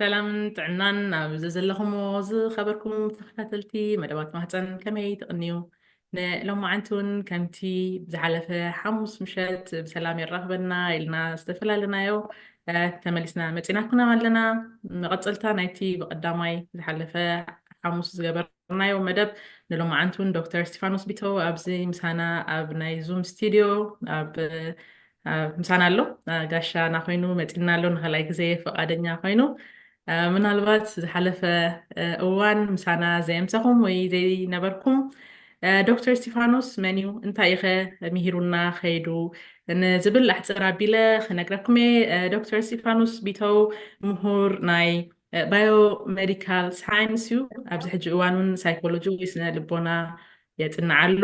ሰላምን ጥዕናን ኣብ ዘዘለኹሞ ዝኸበርኩም ተኸታተልቲ መደባት ማህፀን ከመይ ትቕንዩ ንሎማዓንቲ እውን ከምቲ ዝሓለፈ ሓሙስ ምሸት ብሰላም የራኽበና ኢልና ዝተፈላለናዮ ተመሊስና መፂናኩና ኣለና መቐፀልታ ናይቲ ብቐዳማይ ዝሓለፈ ሓሙስ ዝገበር ናዮ መደብ ንሎማዓንቱን ዶክተር እስቲፋኖስ ቢተው ኣብዚ ምሳና ኣብ ናይ ዙም ስቲድዮ ኣብ ምሳና ኣሎ ጋሻ ናኮይኑ መፂና ኣሎ ንካልኣይ ግዜ ፈቃደኛ ኮይኑ ምናልባት ዝሓለፈ እዋን ምሳና ዘየምሰኹም ወይ ዘይነበርኩም ዶክተር እስቲፋኖስ መን እዩ እንታይ ኢኸ ምሂሩና ከይዱ ንዝብል ኣሕፅር ኣቢለ ክነግረኩም እየ ዶክተር እስቲፋኖስ ቢተው ምሁር ናይ ባዮ ሜዲካል ሳይንስ እዩ። ኣብዚ ሕጂ እዋን እውን ሳይኮሎጂ ወይ ስነ ልቦና የፅናዕ ኣሎ።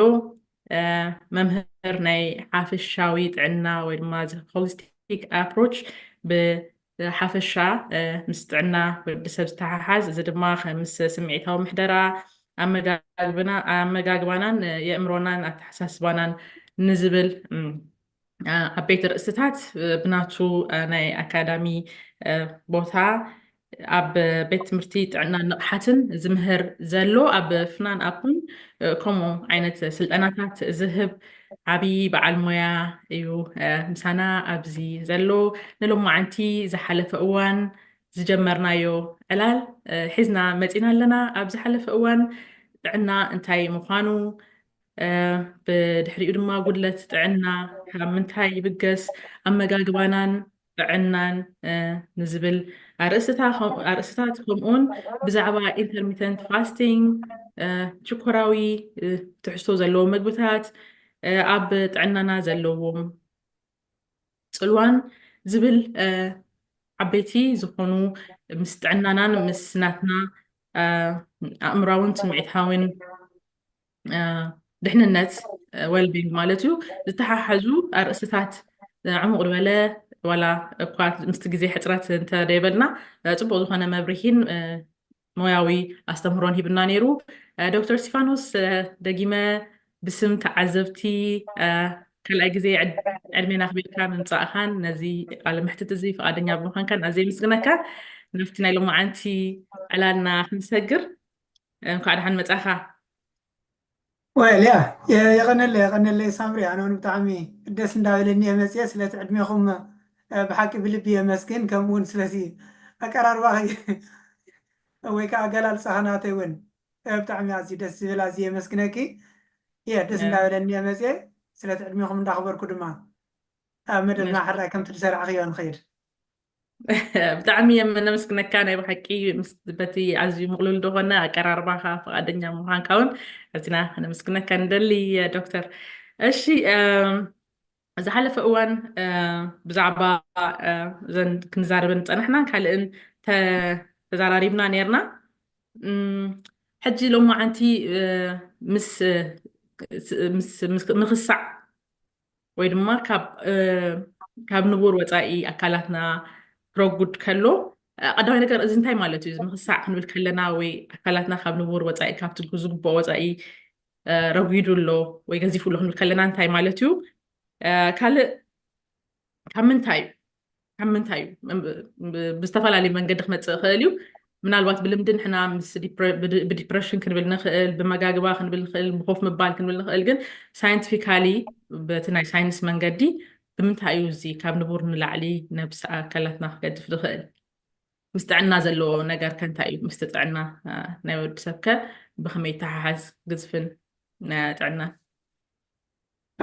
መምህር ናይ ሓፈሻዊ ጥዕና ወይ ድማ ሆሊስቲክ ኣፕሮች ብሓፈሻ ምስ ጥዕና ወዲ ሰብ ዝተሓሓዝ እዚ ድማ ምስ ስምዒታዊ ምሕደራ ኣመጋግባናን የእምሮናን ኣተሓሳስባናን ንዝብል ዓበይቲ ርእስታት ብናቱ ናይ ኣካዳሚ ቦታ ኣብ ቤት ትምህርቲ ጥዕና ንቕሓትን ዝምህር ዘሎ ኣብ ፍናን ኣፕን ከምኡ ዓይነት ስልጠናታት ዝህብ ዓብዪ በዓል ሞያ እዩ ምሳና ኣብዚ ዘሎ ንሎማዓንቲ ዝሓለፈ እዋን ዝጀመርናዮ ዕላል ሒዝና መፂና ኣለና ኣብ ዝሓለፈ እዋን ጥዕና እንታይ ምዃኑ ብድሕሪኡ ድማ ጉድለት ጥዕና ካብ ምንታይ ይብገስ ኣመጋግባናን ጥዕናን ንዝብል ኣርእስታት ከምኡውን ብዛዕባ ኢንተርሚተንት ፋስቲንግ ሽኮራዊ ትሕዝቶ ዘለዎ ምግብታት ኣብ ጥዕናና ዘለዎም ፅልዋን ዝብል ዓበይቲ ዝኾኑ ምስ ጥዕናናን ምስ ናትና ኣእምራውን ስምዒታውን ድሕንነት ወልቢንግ ማለት እዩ ዝተሓሓዙ ኣርእስታት ዕሙቕ ዝበለ ዋላ እኳ ምስቲ ግዜ ሕፅረት እንተደይበልና ፅቡቅ ዝኾነ መብርሂን ሞያዊ ኣስተምህሮን ሂብና ነይሩ ዶክተር ስቲፋኖስ ደጊመ ብስም ተዓዘብቲ ካልኣይ ግዜ ዕድሜና ክቤልካ ምምፃእኻን ነዚ ቃለ ምሕትት እዚ ፍቃደኛ ብምዃንካን ኣዘይ ምስግነካ ናብቲ ናይ ሎማዓንቲ ዕላልና ክንሰግር እንኳዕ ደሓን መፃኻ። ወል ያ የቐነለይ የቐነለይ ሳምሪ ኣነ እውን ብጣዕሚ ደስ እንዳበለኒ እየ መፅየ ስለቲ ዕድሜኹም ብሓቂ ብልቢ የመስግን ከምኡ እውን ስለዚ ኣቀራርባኺ ወይ ከዓ ኣገላልፃኺ ናተይ እውን ብጣዕሚ ኣዝዩ ደስ ዝብል ኣዝየ የመስግነኪ እየ ደስ እንዳበለኒ እየ መፅየ ስለቲ ዕድሜኹም እንዳኽበርኩ ድማ ኣብ መደብና ሕራይ ከምቲ ዝሰራዕኽዮ ንኽይድ ብጣዕሚ እየም ነመስግነካ ናይ ብሓቂ ምስ በቲ ኣዝዩ ምቕሉል ዝኾነ ኣቀራርባኻ ፈቓደኛ ምዃንካ እውን ኣዚና ነመስግነካ ንደሊ ዶክተር እሺ ዝሓለፈ እዋን ብዛዕባ እዘን ክንዛረበን ፀናሕና ካልእን ተዛራሪብና ነርና ሕጂ ሎማዓንቲ ምስ ምክሳዕ ወይ ድማ ካብ ንቡር ወፃኢ ኣካላትና ክረጉድ ከሎ ቀዳማይ ነገር እዚ እንታይ ማለት እዩ ምክሳዕ ክንብል ከለና ወይ ኣካላትና ካብ ንቡር ወፃኢ ካብቲ ዝግብኦ ወፃኢ ረጒዱ ኣሎ ወይ ገዚፉ ኣሎ ክንብል ከለና እንታይ ማለት እዩ ካልእ ካብ ምንታይ እዩ ካብ ምንታይ እዩ ብዝተፈላለዩ መንገዲ ክመፅእ ይኽእል እዩ ምናልባት ብልምዲ ንሕና ብዲፕሬሽን ክንብል ንኽእል ብመጋግባ ክንብል ንኽእል ብኮፍ ምባል ክንብል ንኽእል ግን ሳይንቲፊካሊ በቲ ናይ ሳይንስ መንገዲ ብምንታይ እዩ እዚ ካብ ንቡር ንላዕሊ ነብሲ ኣካላትና ክገድፍ ዝኽእል ምስ ጥዕና ዘለዎ ነገር ከ እንታይ እዩ ምስቲ ጥዕና ናይ ወዲ ሰብ ከ ብከመይ ተሓሓዝ ግዝፍን ጥዕናን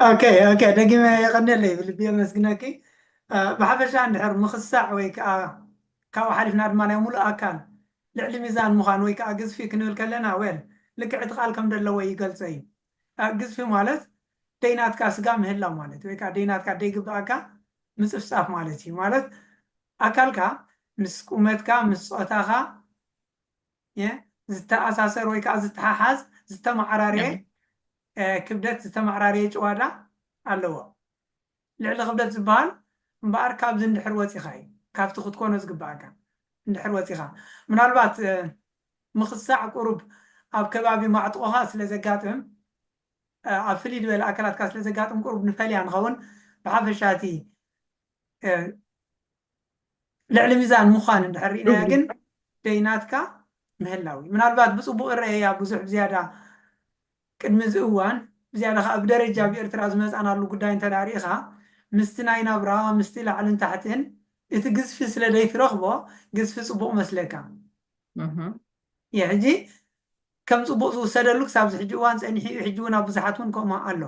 ኦኬ ኦኬ ደጊመ የቐኔለይ ብልቢ የመስግነኪ። ብሓፈሻ እንድሕር ምኽሳዕ ወይ ከኣ ካብኡ ሓሊፍና ድማ ናይ ሙሉእ ኣካል ልዕሊ ሚዛን ምዃን ወይ ከኣ ግዝፊ ክንብል ከለና ዌል ልክዕ እቲ ቃል ከምደለዎ ይገልጾ እዩ። ግዝፊ ማለት ደይናትካ ስጋ ምህላው ማለት እዩ ወይ ከኣ ደይናትካ ደይግብኣካ ምጽፍጻፍ ማለት እዩ። ማለት ኣካልካ ምስ ቁመትካ ምስ ጾታኻ ዝተኣሳሰር ወይ ከኣ ዝተሓሓዝ ዝተመዓራረየ ክብደት ዝተመዓራረየ ጭዋዳ ኣለዎ። ልዕሊ ክብደት ዝበሃል እምበኣር ካብዚ እንድሕር ወጺኻ እዩ፣ ካብቲ ክትኮኖ ዝግበኣካ እንድሕር ወጺኻ። ምናልባት ምኽሳዕ ቁሩብ ኣብ ከባቢ ማዕጥቖኻ ስለ ዘጋጥም፣ ኣብ ፍልይ ዝበለ ኣካላትካ ስለ ዘጋጥም ቁሩብ ንፈልያ ንኸውን፣ ብሓፈሻ እቲ ልዕሊ ሚዛን ምዃን እንድሕር ርኢናያ ግን ደይናትካ ምህላው እዩ ምናልባት ብፅቡቅ እረአያ ብዙሕ ብዝያዳ ቅድሚ እዚ እዋን ብዝያዳ ከዓ ብደረጃ ኣብ ኤርትራ ዝመፃናሉ ጉዳይ እንተ ርኢኻ ምስቲ ናይ ናብራ ምስቲ ላዕልን ታሕትን እቲ ግዝፊ ስለ ዘይትረኽቦ ግዝፊ ፅቡቅ መስለካ የ ሕጂ ከም ፅቡቅ ዝውሰደሉ ክሳብ ዝሕጂ እዋን ፀኒሑ እዩ ሕጂ እውን ኣብ ብዙሓት እውን ከምኡ ኣሎ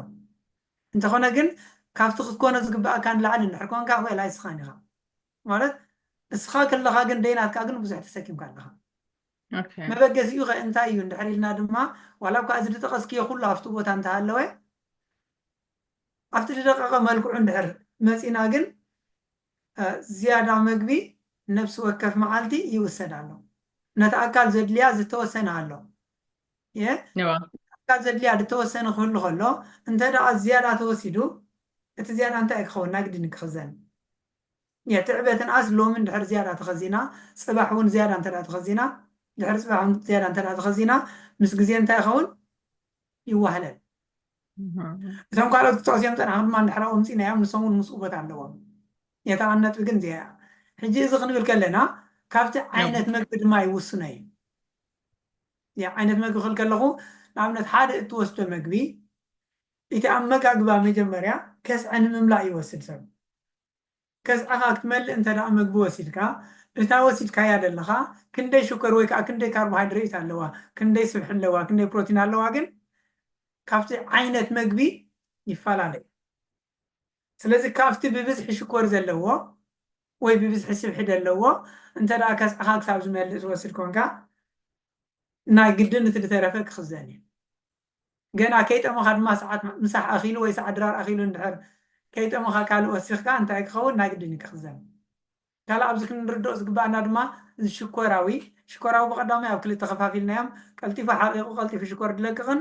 እንተኾነ ግን ካብቲ ክትኮኖ ዝግበኣካ ንላዕሊ እንድሕር ኮንካ ዌል ኣይስኻን ኢኻ ማለት እስኻ ከለኻ ግን ደይናትካ ግን ብዙሕ ተሰኪምካ ኣለኻ ኦኬ መበገሲኡ ከ እንታይ እዩ እንድሕር ኢልና ድማ ዋላ እኳ እዚ ዝጠቐስክዮ ኩሉ ኣብቲ ቦታ እንተሃለወ ኣብቲ ዝደቀቐ መልክዑ እንድሕር መፂና ግን እ፣ ዝያዳ መግቢ ነብሲ ወከፍ መዓልቲ ይውሰድ ኣሎ ነቲ ኣካል ዘድልያ ዝተወሰነ ኣሎ እየ እካ ዘድልያ ድተወሰነ ክህሉ ከሎ እንተ ደኣ ዝያዳ ተወሲዱ እቲ ዝያዳ እንታይ እዩ ክኸውን ናግድን ክኽዘን እየ ትዕበ ትንኣስ ሎሚ እንድሕር ዝያዳ ተኸዚና ጽባሕ እውን ዝያዳ እንተ ደኣ ተኸዚና ድሕሪ ጽባሕ እውን ዝያዳ እንተ ደኣ ተኸዚና ምስ ግዜ እንታይ ይኸውን ይዋህለል እቶም ካልኦት ክጠቕሱ እዮም ፀናሕኩም ድማ እንድሕር ኣምፂናዮም ንሶም እውን ምስኡ ቦታ ኣለዎም የታ ቀን ነጥቢ ግን እዚኣ ሕጂ እዚ ክንብል ከለና ካብቲ ዓይነት መግቢ ድማ ይውስኖ እዩ ዓይነት መግቢ ክብል ከለኹ ንኣብነት ሓደ እትወስዶ መግቢ እቲ ኣመጋግባ መጀመርያ ከስዐ ንምምላእ ይወስድ ሰብ ከስዐኻ ክትመልእ እንተ ደኣ መግቢ ወሲድካ እታ ወሲድካያ ደለኻ ክንደይ ሽኮር ወይ ከኣ ክንደይ ካርቦሃይድረይት ኣለዋ ክንደይ ስብሒ ኣለዋ ክንደይ ፕሮቲን ኣለዋ ግን ካብቲ ዓይነት መግቢ ይፈላለ እዩ። ስለዚ ካብቲ ብብዝሒ ሽኮር ዘለዎ ወይ ብብዝሒ ስብሒ ደለዎ እንተ ከስዕኻ ክሳብ ዝመልእ ትወስድ ኮንካ ናይ ግድን እቲ ድተረፈ ክኽዘን እዩ። ገና ከይጠመኻ ድማ ሰዓት ምሳሕ ኣኺሉ ወይ ሰዓት ድራር ኣኺሉ እንድሕር ከይጠመኻ ካልእ ወሲኽካ እንታይ ክኸውን ናይ ግድን እዩ ክኽዘን። ካልእ ኣብዚ ክንርድኦ ዝግበኣና ድማ እዚ ሽኮራዊ ሽኮራዊ ብቐዳማይ ኣብ ክልተ ከፋፊልናዮም ቀልጢፉ ሓቒቑ ቀልጢፉ ሽኮር ድለቅቕን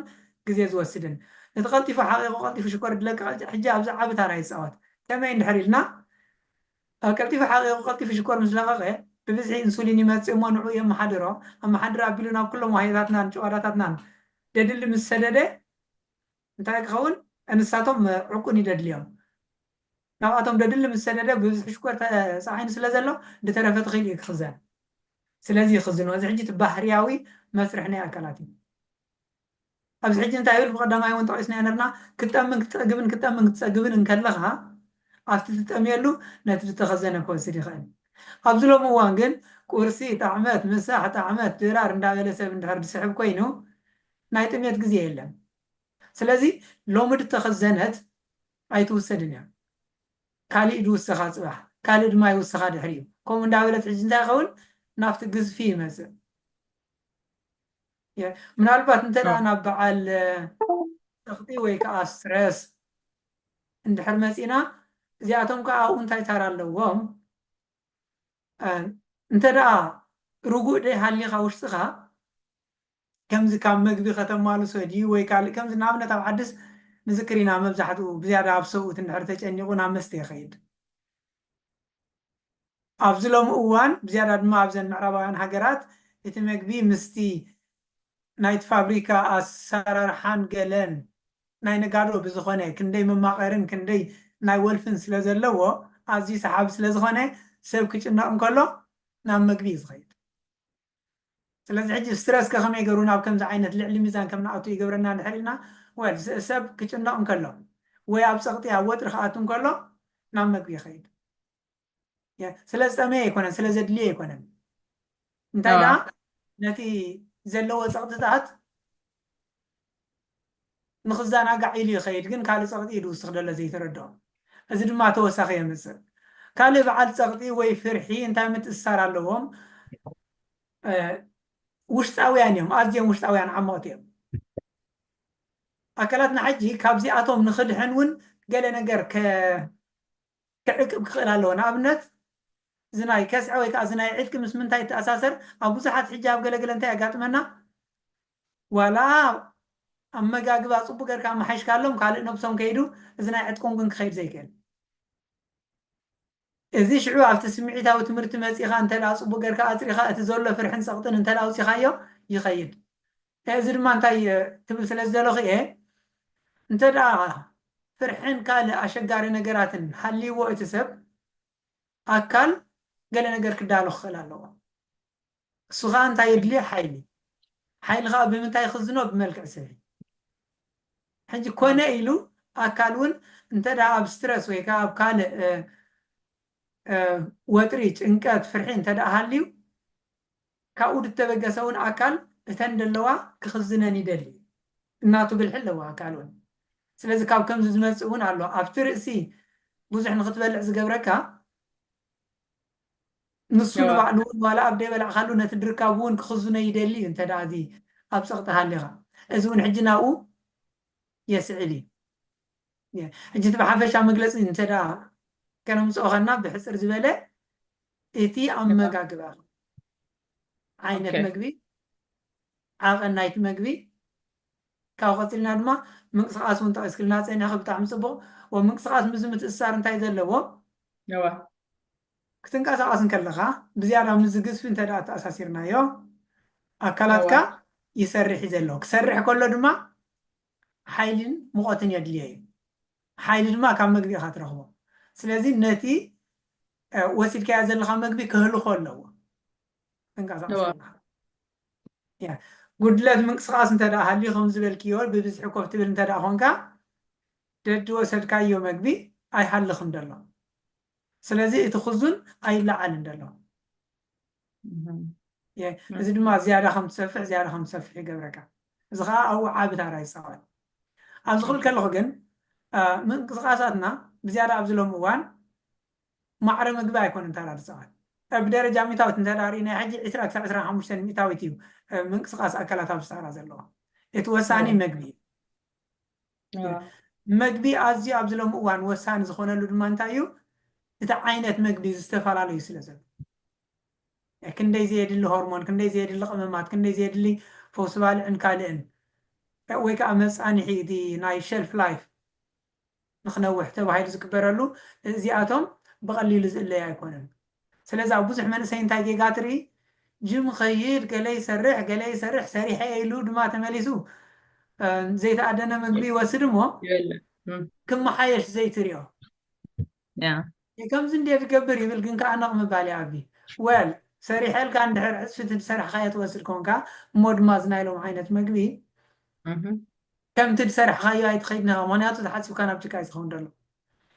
ግዜ ዝወስድን ነቲ ቀልጢፉ ሓቒቑ ቀልጢፉ ሽኮር ድለቅቕ ሕጂ ኣብዚ ዓቢ ታራ ይጻወት ከመይ እንድሕር ኢልና ቀልጢፉ ሓቒቑ ቀልጢፉ ሽኮር ምስ ለቐቐ ብብዝሒ ኢንሱሊን ይመጽእ እሞ ንዕኡ የመሓድሮ ኣመሓድር ኣቢሉ ናብ ኩሎም ዋህዮታትናን ጭዋዳታትናን ደድሊ ምስ ሰደደ እንታይ ክኸውን ንሳቶም ዕቁን ይደድልዮም ናብኣቶም ደድሊ ምስ ሰደደ ብብዝሒ ሽኮር ተጻዒኑ ስለ ዘሎ ድተረፈ ትኺል እዩ ክኽዘን ስለዚ ይኽዝኖ እዚ ሕጂ እቲ ባህርያዊ መስርሕ ናይ ኣካላት እዩ ኣብዚ ሕጂ እንታይ ይብል ብቀዳማይ እውን ጠቂስናዮ ነርና ክትጠምን ክትጸግብን ክትጠምን ክትጸግብን እንከለኻ ኣብቲ ትጠምየሉ ነቲ ድተኸዘነ ክወስድ ይኽእል ኣብዚ ሎሚ እዋን ግን ቁርሲ ጣዕመት ምሳሕ ጣዕመት ድራር እንዳበለ ሰብ እንድሕር ድስሕብ ኮይኑ ናይ ጥምየት ግዜ የለን ስለዚ ሎሚ ድተኸዘነት ኣይትውሰድን እያ ካሊእ ድውሰኻ ፅባሕ ካልእ ድማ ይውሰኻ ድሕሪኡ ከምኡ እንዳበለት ሕጂ እንታይ ይኸውን ናብቲ ግዝፊ ይመፅእ ምናልባት እንተ ናብ በዓል ፀቕጢ ወይ ከዓ ስትረስ እንድሕር መፂና እዚኣቶም ከዓ ኣብኡ እንታይ ታራ ኣለዎም እንተ ደኣ ርጉእ ደይ ሃሊኻ ውሽጥኻ ከምዚ ካብ መግቢ ከተማልሶ ድዩ ወይ ካልእ ከምዚ ንኣብነት ኣብ ዓድስ ንዝክር ኢና መብዛሕትኡ ብዝያዳ ኣብ ሰብኡት እንድሕር ተጨኒቑ ናብ መስተ ይኸይድ ኣብዚ ሎሚ እዋን ብዝያዳ ድማ ኣብዘን ምዕራባውያን ሃገራት እቲ መግቢ ምስቲ ናይቲ ፋብሪካ ኣሰራርሓን ገለን ናይ ነጋዶ ብዝኾነ ክንደይ መማቐርን ክንደይ ናይ ወልፍን ስለ ዘለዎ ኣዝዩ ሰሓቢ ስለ ዝኾነ ሰብ ክጭነቕ እንከሎ ናብ መግቢ እዩ ዝኸይድ። ስለዚ ሕጂ ስትረስ ከ ከመይ ገሩ ናብ ከምዚ ዓይነት ልዕሊ ሚዛን ከም ንኣቱ ይገብረና ድሕር ኢልና well ሰብ ክጭነቕ እንከሎ ወይ ኣብ ጸቕጢ ኣብ ወጥሪ ክኣቱ እንከሎ ናብ መግቢ ይኸይድ yeah ስለ ዝጠመየ ኣይኮነን ስለ ዘድልዮ ኣይኮነን እንታይ ደኣ ነቲ ዘለዎ ጸቕጥታት ንኽዘናጋዕ ኢሉ ይኸይድ ግን ካልእ ጸቕጢ ኢድ ውስኽ ደሎ ዘይተረድኦ እዚ ድማ ተወሳኺ የምጽእ ካልእ በዓል ጸቕጢ ወይ ፍርሒ እንታይ ምትእስሳር ኣለዎም ውሽጣውያን እዮም ኣዝዮም ውሽጣውያን ዓመቕቲ እዮም ኣካላትና ሕጂ ካብዚኣቶም ንኽድሕን እውን ገለ ነገር ክዕቅብ ክኽእል ኣለዎ ንኣብነት እዚ ናይ ከስዐ ወይ ከዓ እዚ ናይ ዕጥቂ ምስ ምንታይ ይተኣሳሰር ኣብ ብዙሓት ሕጂ ኣብ ገለገለ እንታይ የጋጥመና ዋላ ኣመጋግባ ጽቡቅ ገርካ ኣማሓይሽካሎም ካልእ ነብሶም ከይዱ እዚ ናይ ዕጥቆም ግን ክከይድ ዘይክእል እዚ ሽዑ ኣብቲ ስምዒታዊ ትምህርቲ መጺካ እንተድኣ ጽቡቅ ገርካ ኣጽሪካ እቲ ዘሎ ፍርሕን ጸቅጥን እንተድኣ ኣውጺካዮ ይከይድ እዚ ድማ እንታይ ክብል ስለ ዝደለኩ እየ እንተድኣ ፍርሕን ካልእ ኣሸጋሪ ነገራትን ሃልይዎ እቲ ሰብ ኣካል ገለ ነገር ክዳሎ ክክእል ኣለዎ እሱ ከኣ እንታይ የድልዮ ሓይሊ ሓይሊ ከኣ ብምንታይ ይኽዝኖ ብመልክዕ ስብ ሕጂ ኮነ ኢሉ ኣካል ውን እንተ ኣብ ስትረስ ወይ ከኣ ኣብ ካልእ ወጥሪ ጭንቀት ፍርሒ እንተ ሃልዩ ካብኡ ድተበገሰ ውን ኣካል እተን ደለዋ ክኽዝነን ይደሊ እዩ እናቱ ብልሒ ኣለዎ ኣካል ውን ስለዚ ካብ ከምዚ ዝመጽእ ውን ኣሎ ኣብቲ ርእሲ ብዙሕ ንኽትበልዕ ዝገብረካ ንሱ ንባዕሉ እውን ዋላ ኣብ ደይበላዕካሉ ነቲ ድርካቡ እውን ክኽዝኖ ይደሊ እዩ እንተ ደኣ እዚ ኣብ ጸቕጢ ሃሊኻ። እዚ እውን ሕጂ ናብኡ የስዕብ እዩ። ሕጂ እቲ ብሓፈሻ መግለጺ እንተ ደኣ ከነምጽኦ ከና ብሕጽር ዝበለ እቲ ኣመጋግባ ዓይነት መግቢ ዓቐን ናይቲ መግቢ ካብኡ ቀጺልና ድማ ምንቅስቃስ ውን ጠቂስክልና ጸኒሕኺ ብጣዕሚ ጽቡቅ ወ ምንቅስቃስ ምስዚ ምትእስሳር እንታይ ዘለዎ እወ። ክትንቀሳቀስ እንከለኻ ብዝያዳ ምስዚ ግዝፊ እንተ ኣተኣሳሲርናዮ ኣካላትካ እወ። ይሰርሕ እዩ ዘሎ ክሰርሕ ከሎ ድማ ሓይልን ሙቀትን የድልዮ እዩ ሓይሊ ድማ ካብ መግቢ ኢኻ ትረኽቦ ስለዚ ነቲ ወሲድካዮ ዘለኻ መግቢ ከህልኾ ኣለዎ ክትንቀሳቀስ እወ። ከለኻ ጉድለት ምንቅስቃስ እንተ ሃልዩ ከምዚ ዝበልክዮ ብብዝሒ ኮፍ ትብል እንተ ኮንካ ደድወሰድካዮ መግቢ ኣይሃልኽን ደሎ ስለዚ እቲ ክዙን ኣይለዓልን ደሎ እዚ ድማ ዝያዳ ከም ትሰፍሕ ዝያዳ ከም ትሰፍሕ ይገብረካ እዚ ከዓ ኣብኡ ዓቢ ታራ ይፃወት ኣብዚ ክብል ከለኹ ግን ምንቅስቃሳትና ብዝያዳ ኣብዚ ሎም እዋን ማዕረ መግቢ ኣይኮነን ታራሪ ጸዓት። ብ ደረጃ ሚታዊት እንተድኣ ርኢናዮ ሕጂ ዕስራ ክሳዕ ዕስራን ሓሙሽተን ሚታዊት እዩ ምንቅስቃስ ኣካላት ኣብ ሳሃራ ዘለዋ። እቲ ወሳኒ መግቢ እዩ። መግቢ ኣዝዩ ኣብዚ ሎሚ እዋን ወሳኒ ዝኾነሉ ድማ እንታይ እዩ እቲ ዓይነት መግቢ ዝተፈላለዩ ስለ ዘሎ ክንደይ ዘየድሊ ሆርሞን ክንደይ ዘየድሊ ቅመማት ክንደይ ዘየድሊ ፈውሲ ባልዕን ካልእን ወይ ከዓ መፃንሒ እቲ ናይ ሸልፍ ላይፍ ንክነውሕ ተባሂሉ ዝግበረሉ እዚኣቶም ብቐሊሉ ዝእለዩ ኣይኮኑን። ስለዚ ኣብ ብዙሕ መንእሰይ እንታይ ጌጋ ትርኢ? ጅም ይኸይድ፣ ገለ ይሰርሕ፣ ገለ ይሰርሕ፣ ሰሪሐ እየ ኢሉ ድማ ተመሊሱ ዘይተኣደነ ምግቢ ይወስድ እሞ ክመሓየሽ ዘይትሪኦ? ከምዚ እንድየ ዝገብር ይብል ግን ከኣ ነቕ ምባል ይኣቢ። Well ሰሪሐልካ እንድሕር ዕጽፊቲ ዝሰራሕካዮ ትወስድ ኮንካ እሞ ድማ እዚ ናይ ሎሚ ዓይነት መግቢ ከምቲ ዝሰራሕካዮ ኣይትኸይድን ኢኻ ምኽንያቱ ተሓጺብካ ናብ ጭቃ እዩ ዝኸውን ዘሎ።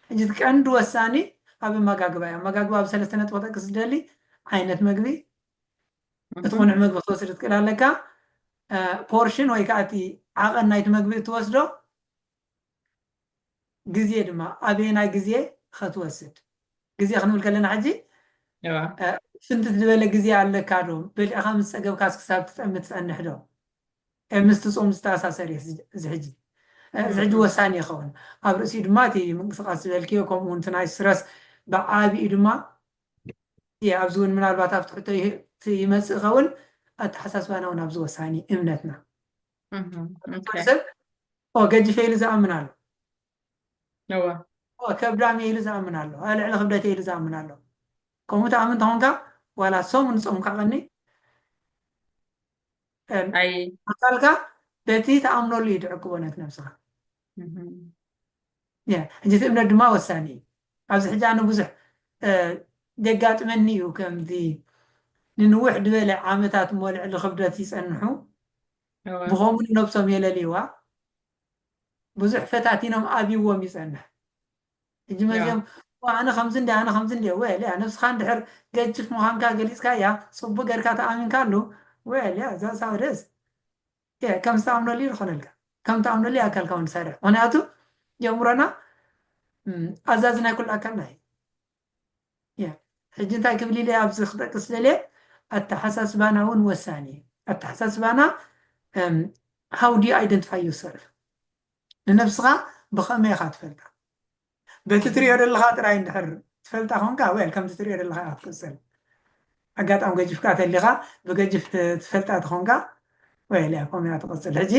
ሕጂ እቲ ቀንዲ ወሳኒ ኣብ ኣመጋግባ እዩ። ኣመጋግባ ኣብ ሰለስተ ነጥቢ ክጠቅስ ዝደሊ ዓይነት መግቢ እቲ ቅኑዕ መግቢ ክትወስድ ትክእል ኣለካ፣ ፖርሽን ወይ ከኣ እቲ ዓቐን ናይቲ መግቢ እትወስዶ፣ ግዜ ድማ ኣበየናይ ግዜ ኸትወስድ ግዜ ክንብል ከለና ሕጂ ፍንትት ዝበለ ግዜ ኣለካ ዶ በሊዕኻ ምስ ጸገብካስ ክሳብ ትጠሚ ትጸንሕ ዶ ምስቲ ጾም ዝተኣሳሰር እዩ እዚ ሕጂ እዚ ሕጂ ወሳኒ ይኸውን ኣብ ርእሲኡ ድማ እቲ ምንቅስቃስ ዝበልክዮ ከምኡ እውን እቲ ናይ ስረስ ብዓቢኡ ድማ እየ ኣብዚ እውን ምናልባት ኣብቲ ሕቶ ይመፅእ ይኸውን ኣተሓሳስባና እውን ኣብዚ ወሳኒ እምነትና ሰብ ገዲፈ ኢሉ ዝኣምን ኣሎ ከብዳም ኢሉ ዝኣምን ኣሎ ልዕሊ ክብደት ኢሉ ዝኣምን ኣሎ ከምኡ ትኣምን ተኾንካ ዋላ ሰሙን ፆምካ ቀኒ ኣካልካ በቲ ተኣምነሉ እዩ ትዕቅቦ ነት ነብስኻ ሕጂ እቲ እምነት ድማ ወሳኒ እዩ ኣብዚ ሕጂ ኣነ ብዙሕ ዘጋጥመኒ እዩ ከምዚ ንንውሕ ዝበለ ዓመታት እሞ ልዕሊ ክብደት ይፀንሑ ብኸምኡ ንነብሶም የለልይዋ ብዙሕ ፈታቲኖም ኣብዎም ይፀንሕ ሕጂ መዚኦም ኣነ ከምዚ እንዲ ኣነ ከምዚ እንዲ ወልያ ነብስኻ እንድሕር ገጅፍ ምዃንካ ገሊፅካያ ፅቡቅ ገርካ ተኣሚንካሉ ወልያ እዛ ሳውደስ እየ ከም ዝተኣምነሉ እዩ ዝኾነልካ ከም ተኣምነሉ ኣካልካ እውን ዝሰርሕ ምክንያቱ የእምሮና ኣዛዚ ናይ ኩሉ ኣካልና እዩ ሕጂ እንታይ ክብል ኢለ ኣብዚ ክጠቅስ ደልየ ኣተሓሳስባና እውን ወሳኒ እዩ ኣተሓሳስባና ሃው ዲዩ ኣይደንቲፋይ ዩሰርፍ ንነብስኻ ብኸመይ ኢኻ ትፈልጣ በቲ ትሪኦ ደለኻ ጥራይ እንድሕር ትፈልጣ ኮንካ well ከምቲ ትሪኦ ደለኻ ኢኻ ትቅጽል ኣጋጣሚ ገጅፍካ ተሊኻ ብገጅፍ ትፈልጣ ተኾንካ well እያ ከምኡ እያ ትቅጽል ሕጂ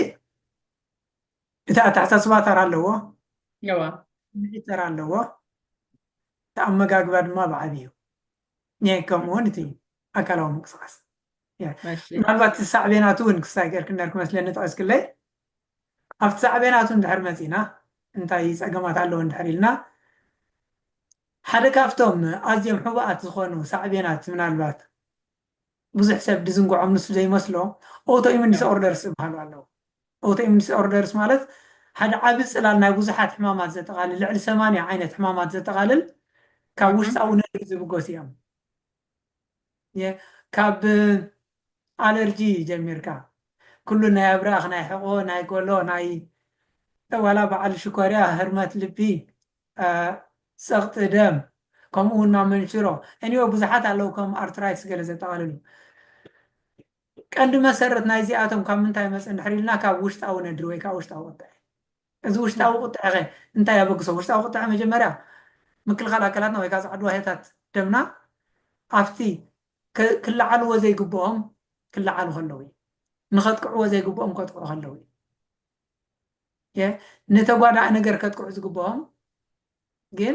እቲ ኣተሓሳስባ ተራ ኣለዎ ስምዒት ተራ ኣለዎ እቲ ኣመጋግባ ድማ ብዓብዩ ከምኡ እውን እቲ ኣካላዊ ምንቅስቃስ ምናልባት ሳዕቤናቱ እውን ክሳይ ገርክነር ክመስለኒ ጠቂስክለይ ኣብቲ ሳዕቤናቱ እንድሕር መጺእና እንታይ ጸገማት ኣለዎ እንድሕር ኢልና ሓደ ካብቶም ኣዝዮም ሕቡኣት ዝኾኑ ሳዕቤናት ምናልባት ብዙሕ ሰብ ድዝንግዖም ንሱ ዘይመስሎ ኦውቶኢሙን ዲስኦርደርስ ዝበሃሉ ኣለዉ። ኦውቶኢሙን ዲስኦርደርስ ማለት ሓደ ዓቢ ጽላል ናይ ብዙሓት ሕማማት ዘጠቓልል ልዕሊ ሰማንያ ዓይነት ሕማማት ዘጠቓልል ካብ ውሽጣዊ ነርቭ ዝብገሱ እዮም። ካብ ኣለርጂ ጀሚርካ ኩሉ ናይ ኣብራኽ ናይ ሕቆ ናይ ጎሎ ናይ ዋላ በዓል ሽኮርያ ህርመት ልቢ ጸቕጢ ደም ከምኡ ውን ናብ መንሽሮ Anyway ብዙሓት ኣለዉ ከም ኣርትራይትስ ገለ ዘጠቓልሉ ቀንዲ መሰረት ናይዚኣቶም ካብ ምንታይ ይመጽእ እንድሕር ኢልና ካብ ውሽጣዊ ነድሪ ወይ ከኣ ውሽጣዊ ቁጠዐ እዚ ውሽጣዊ ቁጠዐኸ እንታይ ኣበግሶ? ውሽጣዊ ቁጠዐ መጀመርያ ምክልኻል ኣካላትና ወይ ከኣ ጸዓዱ ዋህዮታት ደምና ኣብቲ ክለዓልዎ ዘይግብኦም ክለዓሉ ከለዉ እዩ። ንኸጥቅዕዎ ዘይግብኦም ከጥቅዑ ከለዉ እዩ። ንተጓዳኢ ነገር ከጥቅዑ ዝግብኦም ግን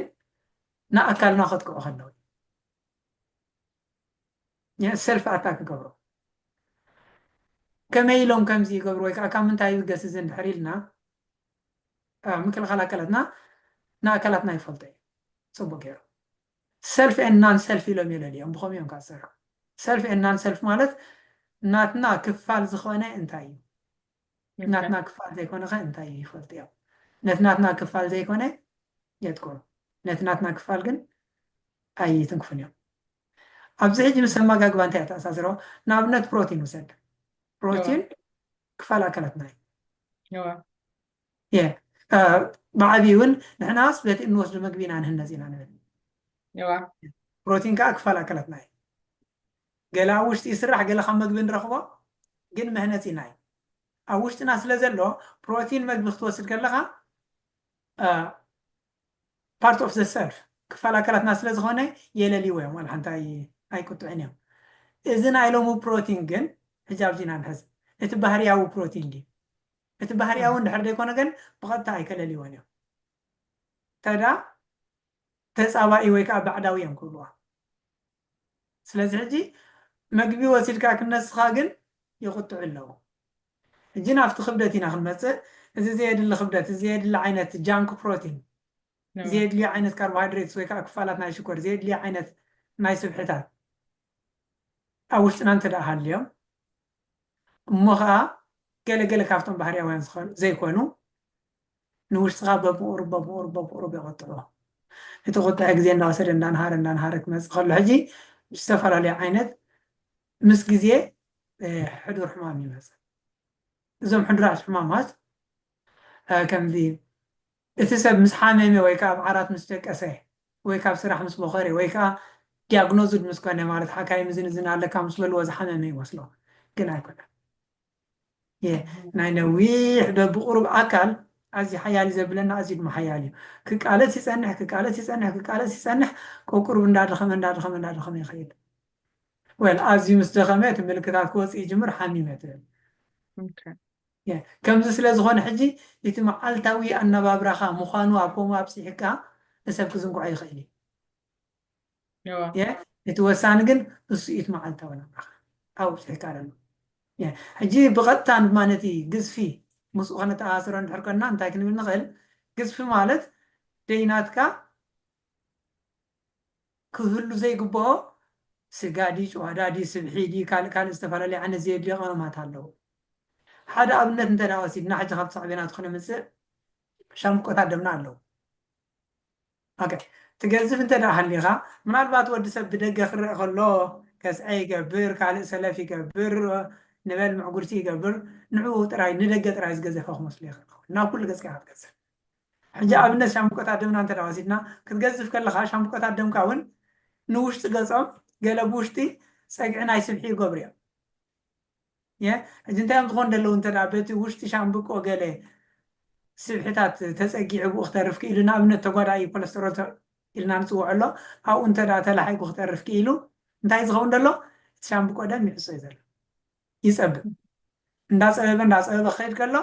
ንኣካልና ከጥቅዑ ከለዉ ሰልፊ ኣታክ ክገብሮ ከመይ ኢሎም ከምዚ ይገብሩ ወይ ከዓ ካብ ምንታይ ይብገስ እዚ እንድሕር ኢልና ምክልኻል ኣካላትና ንኣካላትና ይፈልጦ እዩ ፅቡቅ ገይሩ ሰልፍ ኤን ናን ሰልፍ ኢሎም የለልዮም ብኸምኡ እዮም ካብ ዝሰርሑ ሰልፍ ኤን ናን ሰልፍ ማለት ናትና ክፋል ዝኾነ እንታይ እዩ ናትና ክፋል ዘይኮነ ከ እንታይ እዩ ይፈልጡ እዮም ነቲ ናትና ክፋል ዘይኮነ የጥቅዑ ነቲ ናትና ክፋል ግን ኣይትንክፉን እዮም ኣብዚ ሕጂ ምስ ኣመጋግባ እንታይ ኣተኣሳስሮ ንኣብነት ፕሮቲን ውሰድ ፕሮቲን ክፋል ኣካላትና እዩ ብዓብዪ እውን ንሕናስ በቲ እንወስዱ መግቢ ኢና ንህነፅ ኢና ንብል ፕሮቲን ከዓ ክፋል ኣካላትና እዩ ገለ ኣብ ውሽጢ ይስራሕ ገለ ካብ መግቢ ንረኽቦ ግን መህነጺና እዩ ኣብ ውሽጥና ስለ ዘሎ ፕሮቲን መግቢ ክትወስድ ከለኻ ፓርት ኦፍ ዘ ሰልፍ ክፋል ኣካላትና ስለ ዝኾነ የለልይዎ እዮም ዋላ ሓንቲ ኣይቁጥዕን እዮም እዚ ናይ ሎሚ ፕሮቲን ግን ሕጂ ኣብዚና ንሕዝ እቲ ባህርያዊ ፕሮቲን ድዩ እቲ ባህርያዊ እንድሕር ዘይኮነ ግን ብቐጥታ ኣይከለልዎን እዮም ተዳ ተፃባኢ ወይ ከዓ ባዕዳዊ እዮም ክብልዋ ስለዚ ሕጂ መግቢ ወሲድካ ክነስኻ ግን ይቁጥዑ ኣለዉ። ሕጂ ናብቲ ክብደት ኢና ክንመጽእ እዚ ዘየድሊ ክብደት፣ እዚ ዘየድሊ ዓይነት ጃንክ ፕሮቲን፣ ዘየድልዩ ዓይነት ካርቦሃይድሬትስ ወይ ከኣ ክፋላት ናይ ሽኮር፣ ዘየድልዩ ዓይነት ናይ ስብሕታት ኣብ ውሽጥና እንተ ደኣ ሃልዮም እሞ ከኣ ገለ ገለ ካብቶም ባህርያውያን ዘይኮኑ ንውሽጥኻ በብቑሩብ በብቑሩብ በብቑሩብ የቑጥዑ። እቲ ቁጥዐ ግዜ እንዳወሰደ እንዳንሃረ እንዳንሃረ ክመጽእ ከሎ ሕጂ ዝተፈላለዩ ዓይነት ምስ ግዜ ሕዱር ሕማም ይመጽእ። እዞም ሕዱራት ሕማማት ከምዚ እቲ ሰብ ምስ ሓመመ ወይ ከዓ ኣብ ዓራት ምስ ደቀሰ ወይ ካብ ስራሕ ምስ ቦኸረ ወይ ከዓ ዲያግኖዝድ ምስ ኮነ ማለት ሓካይም እዝን እዝን ኣለካ ምስ በልዎ ዝሓመመ ይመስሎ ግን ኣይኮነን። ናይ ነዊሕ ዶ ብቑሩብ ኣካል ኣዝዩ ሓያል እዩ ዘብለና ኣዝዩ ድማ ሓያል እዩ ክቃለስ ይጸንሕ ክቃለስ ይጸንሕ ክቃለስ ይጸንሕ ቆቁሩብ እንዳደኸመ እንዳደኸመ እንዳደኸመ ይኸይድ ወል ኣዝዩ ምስ ደኸመ እቲ ምልክታት ክወጽእ ይጅምር ሓሚመ ትብል ከምዚ ስለ ዝኾነ ሕጂ እቲ መዓልታዊ ኣነባብራኻ ምዃኑ ኣብ ከምኡ ኣብጺሕካ ንሰብ ክዝንግዖ ይኽእል እዩ እቲ ወሳኒ ግን እሱ ኢት መዓልታዊ ናብራኻ ኣብዚሕካ ኣሎ ሕጂ ብቐጥታ ድማ ነቲ ግዝፊ ምስኡ ከነተኣሳስሮ እንድሕር ኮንና እንታይ ክንብል ንኽእል ግዝፊ ማለት ደይናትካ ክህሉ ዘይግብኦ ስጋ ዲ ጨዋዳ ዲ ስብሒ ዲ ካልእ ካልእ ዝተፈላለዩ ዓይነት ዘየድልዮ ቀመማት ኣለዉ ሓደ ኣብነት እንተ ወሲድና ሕጂ ካብቲ ሳዕቤናቱ ክነምፅእ ሻምቆታት ደምና ኣለዉ ኦኬ ትገዝፍ እንተ ደኣ ሃሊኻ ምናልባት ወዲ ሰብ ብደገ ክረእ ከሎ ከስዐ ይገብር ካልእ ሰለፍ ይገብር ንበል ምዕጉርቲ ይገብር ንዕኡ ጥራይ ንደገ ጥራይ ዝገዘፈ ክመስሎ ይኽእል ክኸውን ናብ ኩሉ ገጽካ ኢኻ ትገዝፍ ሕጂ ኣብነት ሻምብቆታት ደምና እንተ ወሲድና ክትገዝፍ ከለኻ ሻምብቆታት ደምካ እውን ንውሽጢ ገጾም ገለ ብውሽጢ ጸግዒ ናይ ስብሒ ይገብሩ እዮም ሕጂ እንታይ እዮም ዝኾኑ ደለዉ እንተ በቲ ውሽጢ ሻምብቆ ገለ ስብሒታት ተጸጊዑ ብኡ ክተርፍ ክኢሉ ንኣብነት ተጓዳኢ ኮለስተሮል ኢልና ንጽውዖ ኣሎ ኣብኡ እንተ ተላሒጉ ክተርፍ ክኢሉ እንታይ ዝኸውን ደሎ እቲ ሻምብቆ ደም ይሕሶ እዩ ዘሎ ይጸብብ እንዳጸበበ እንዳጸበበ ክኸይድ ከሎ